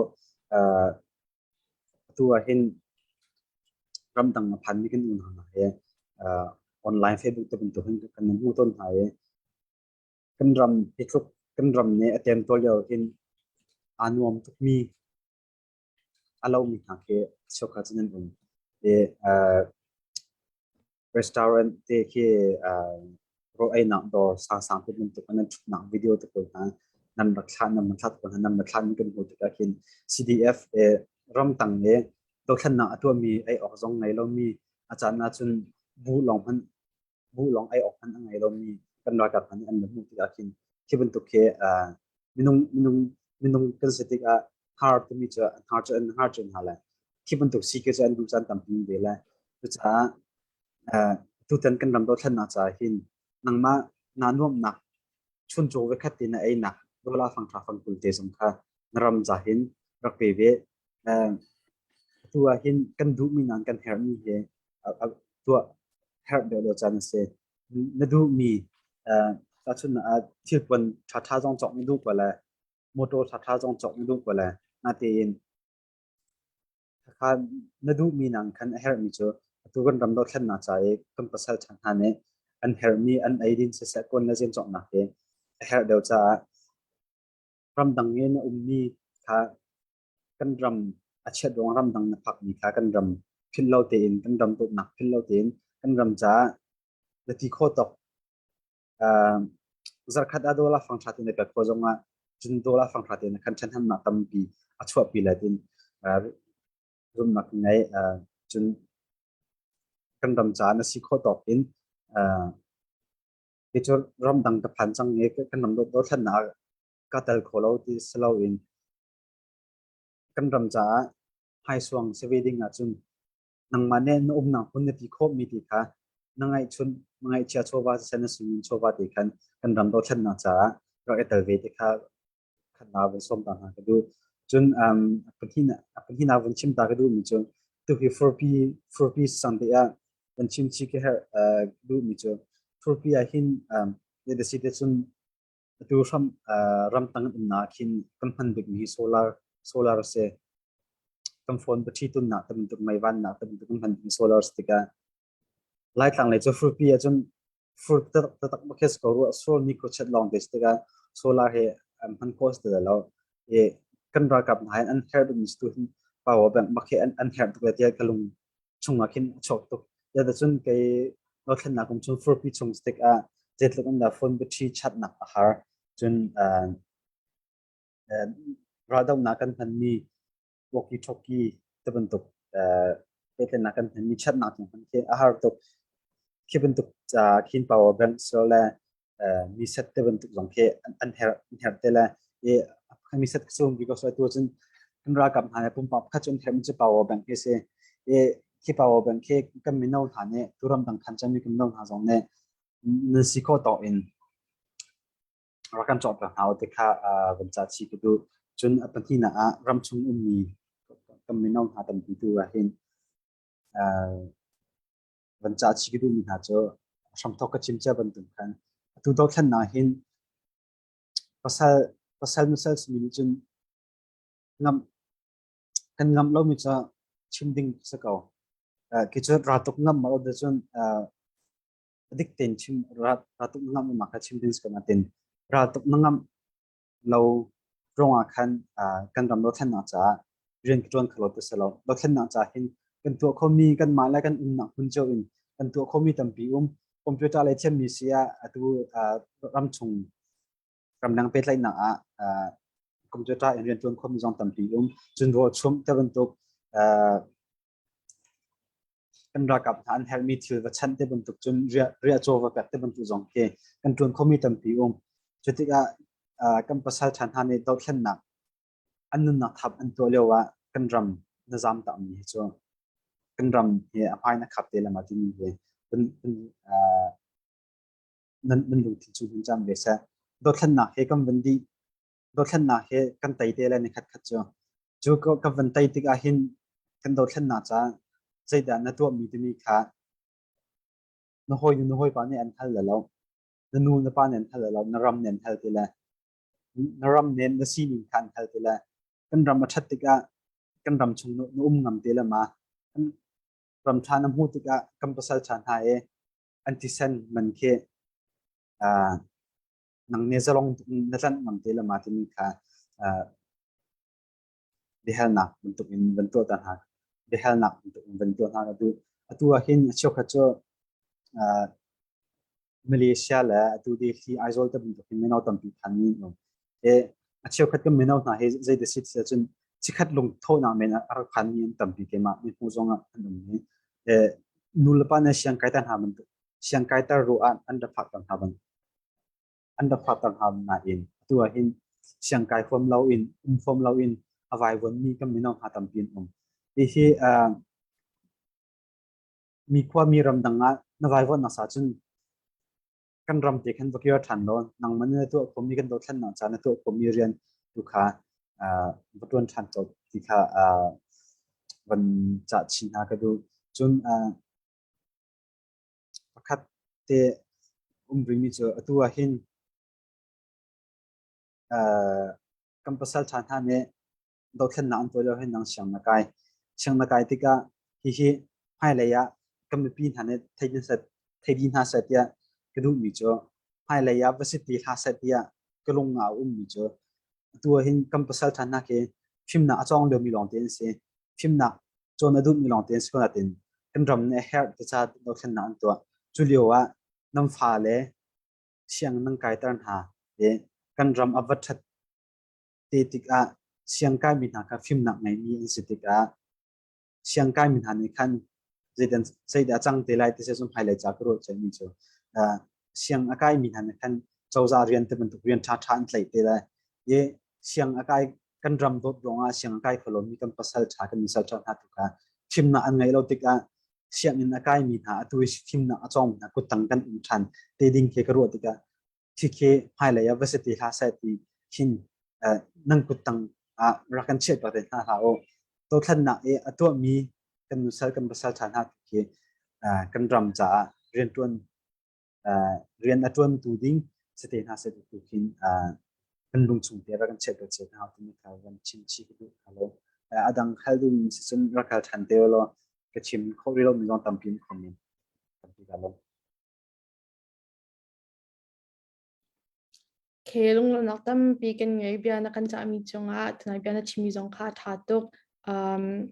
Atu ah hin ramdang a phanmi kan unau hna he uh, online Facebook te bantuk hin kan hmu tawn hna i kan ram hi tluk kan ram ne a tem tawl lio hin aa nuam tukmi a lomi hna khi cheukhat cu nan um i uh, restaurant te khi ro einak dawr sang te bantuk an thuknak video te pawl hna nam rak thla nam thlat pawl hna nam rak thla in kan hmu tikah hin CDF e ramtang le dothlannak a tuahmi ei awk zong ngei lomi a caan ahcun bu lawng hman bu lawng ei awk hman a ngei lomi kan ralkap hna nih an hmuh tikah khin khi bantuk khi minung minung minung kan si tikah har tumi cu an har cu an har cun hna lai Khi bantuk si ke cu an duh caan tampi ve lai. Cucaah tutan kan ram dothlennak caah hin nangmah naa nuamhnak chuncaw vekhat te na einak dollar fangṭha fangkul te zong kha na ram ca hin rak pe ve. Atu ah hin kan duhmi nan kan herhmi hi tuah herh deuhdeuh caan a si. Na duhmi tahchunhnak ah thilpuan ṭhaṭha zong cawk na duh ko lai, motor ṭhaṭha zong cawk na duh ko lai. Natein Khakha na duhmi nang khan a herhmi cu atu kan ram dothlennak ca i kan pasal ṭha hna nih an herhmi an eidin siseh kawn le zein cawknak hi a herh deuh caah ramdang i na ummi kha kan ram a chiat ruang ramdang na phakmi kha kan ram philh lo tein kan ram dawtnak philh lo tein kan ram caah na ti khawh tuk. zarkhat ah dawla fangṭha tein kan khua zongah cun dawla fangṭha tein kan ṭhenhemnak tampi a chuahpi let in rumnak ngei cun kan ram caan a si khawh tawk in itu ram dang ka phan cang nge kan ram do thlan na ka tel kho lo ti selo in kan ram caah high suang se wedding ah cun nangmah nih na umnak hmun na ti khawhmi ti kha na ngaihchun ngaihchia chawva siseh na sungin chawva te khan kan ram dothlennak caah rak i tel ve te kha khan na vun sawm ta hna ka duh cun um pahnih a pahnih na vun chim ta ka duh mi cun tu hi furpi furpi sang te ah kan chim chi ke her duh mi cun furpi ah hin ya da si te cun Atu hram ramtang umnak ah khin kan hman bikmi hi solar solar a si. Kan phone battery tunnak tamtuk mei vannak tamtuk kan hman bikmi solar a si tikah Laitlang lei cu frupi ahcun fruit tatak bakhe ko ruah sol microchip long te stika solar he man cost da lo e kan ralkap na an her dum tu hin power bank bakhe an an her tuk le tia kalung chungah khin a chawk tuk. Zeitacun kei dothlennak kum chung furpi chung stick ah zeitluk in dah phone battery chatnak a har. Cun raldohnak kan hmanmi walkie-talkie tibantuk pehtlaihnak kan hmanmi chatnak cung hman khi a har tuk. Khi bantuk khin power banks le mi set te bantuk zong khi an herh an herh te le i mi set sung because atu cun kan ralkap hna le pumpak pakhat cu an herh mi cu power bank hi si i khi power bank khi kan mino hna nih tu ram dang khan chan mi kan mino hna zong nih nan si kho to in rakan chawt ka hna te kha van cha chi ka du cun a pahnih na ah ram chung um mi kan mino hna tampi tu rahin van ca chi ka duhmi hna cu hramthok ka chim cia bantuk khan atu dothlannak hin pasal pasal masal simi nih cun ngam kan ngam lomi cu chim ding si ko ki cu ratuk ngam ma da cun dik ten chim ratuk ngam ma ka chim ding si ko na tin ratuk na ngam lo ruangah khan kan ram dothlennak caah rian ka ṭuan kho lo ti si lo. Dothlennak caah hin kan tuah khomi kanmah le kan umnak hmun cio in kan tuah khomi tampi um computer le thiammi si ah atu ramchung ramdang pehtlaihnak ah computer in rian ṭuan khomi zong tampi um cun ruah chumh te bantuk kan ralkap hna an helmi thil va chanh te bantuk cun riah caw va pek te bantuk zong khi kan tuan khomi tampi um cu tikah kan pasal ṭha hna nih dothlennak an nunnak thap an tuah lio ah kan ram na zam ta mi hi cu kan ram hi a hmai na khap te lama timi ve nan lungthin cu hun cam ve seh dothlennak he kan van dih dothlennak hi kan tei te le ni khat khat cu cu ka van tei tik ah hin kan dothlennak ca zeidah na tuahmi timi kha na hawi nu na hawipa nih an hal lo na nu na pa nih an hal lo na ram nih an hal ti le na ram nen na sining kha an hal ti le kan ram a ṭhat tikah kan ram chung na um ngam te le ma kan ram ṭha na hmuh tikah kan pasal ṭha hna e an thisen man khi nang ne zalong na tlanh ngam te le ma timi kha biahalnak bantuk in van tuah ta hna biahalnak bantuk in van tuah hna atu atu ah hin a cheukhat cu Malaysia le atu Delhi Aizawl ta bantuk in mino tampi phan nin um e a cheukhat kan mino hna he zei da sit se cun chikhat lung thawnak men a rak phan mi an tampi ke ma ni hmu zong an um ni e nu le pa na siang kai ta hna bantuk siangkaiter ruh ah an ra phakter hna bang an ra phakter hna nain atu ah hin siangkai huam lo in um huam lo in a vaivon mi kan mino hna tampi an um hi hi mi khua mi ram dang ah na vaivon na sa cun kan ram te khan vakio than lo nang man na tu khom mi kan do thlan na cha na tu khom mi rian tu kha vatuan than chop ti kha van cha chin ha ka du cun pakhat te um rimi cu atu ah hin kan pasal ṭha hna nih dothlennak an tuah lio hin nang siang na kai siang na kai tikah hihi hmailei ah kan mipi hna nih theidi hna seh tiah ka duhmi cu hmailei ah va si ti hlah seh tiah ka lung a ummi cu atu ah hin kan pasal ṭha hna khi fimnak a cawng liomi lawng ti an si fimnak cawn a duhmi lawngte an si ko nain kan ram nih a herh ti ca dothlennak an tuah. Cu lio ah nan fa le sianginn nan kaiter hna le kan ram a va ṭhat te tikah siang kaimi hna kha fimnak ngeimi an si tikah siang kaimi hna nih khan zeidan zeidah a cang te lai ti sezum hmailei ca ka ruah ceihmi cu uh, siang a kaimi hna nih khan cozah rian te bantuk rian ṭhaṭha an tlaih te lai i siang a kai kan ram dawt ruangah sianginn kai kho lomi kan pasal ṭha kan in salṭhauh hna tluk ah thimnak an ngeih lo tikah sianginn a kaimi hna atu i thimnak a cawngmi hna kuttang kan um ṭhan te ding khi ka ruah tikah khi hmailei ah va se ti hlah seh ti hin nan kuttang ah rak kan chiah pah te hna hlah u dothlannak i a tuahmi kan nusal kan pasal ṭha hna khi kan ram caah rianṭuan rian a ṭuantu ding si te hna seh tu khin kan lungchung te rak kan chiat ka chiat hna timi kha van chim chi ka duh kha lo a dang hal duh mi si cun rak hal ṭhan te law ka chim kho rih lo mi zong tampi in khom in tampi ka lo Khi lunglawmhnak tampi kan ngei. Bia na kan cahmi cungah tunai bia na chimmi zong kha ṭha tuk. Um,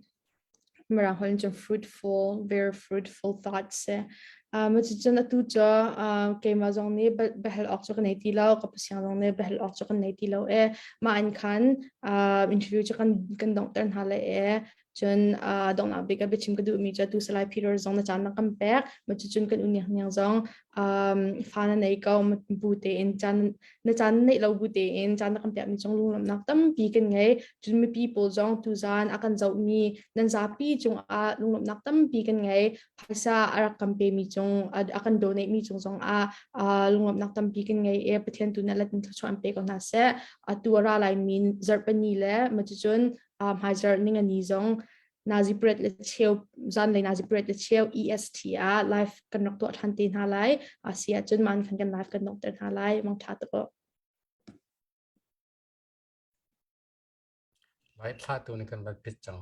Mirang holh in cun fruitful, very fruitful thoughts si. Um, cucun atu cu uh, keimah zong nih bia- biahal awk cu ka nei ti lo, ka pasiang zong nih biahal awk cu kan nei ti lo e. Mah in khan uh, interview cu kan, kan donghter hna le e. Cun uh, donglak bik a biachim ka duhmi cu tu salai Peter zong na caan na kan pek ma cucun kan uniang niang zong um, fa na nei ko bu tein caan na caan neih lo bu tein caan na kan piahmi cong lunglamnak tampi kan ngei cun mipi pawl zong tu zan a kan zohmi nan zapi cung ah lunglamnak tampi kan ngei phaisa a rak kan pemi cung a kan donate mi cung zong ah uh, lunglamnak tampi kan ngei e pathian tu na latin thlachuan pe ko hna seh atu ara lai min zarpani le ma cucun uh, hmaizarh ningani zong nazi pret le cheu zan le nazi pret le cheu est ah live kan rak tuah than te hna lai asi ahcun man khan kan live kan nok ter hna lai mang tha to vai thla tu ni kan va pit chang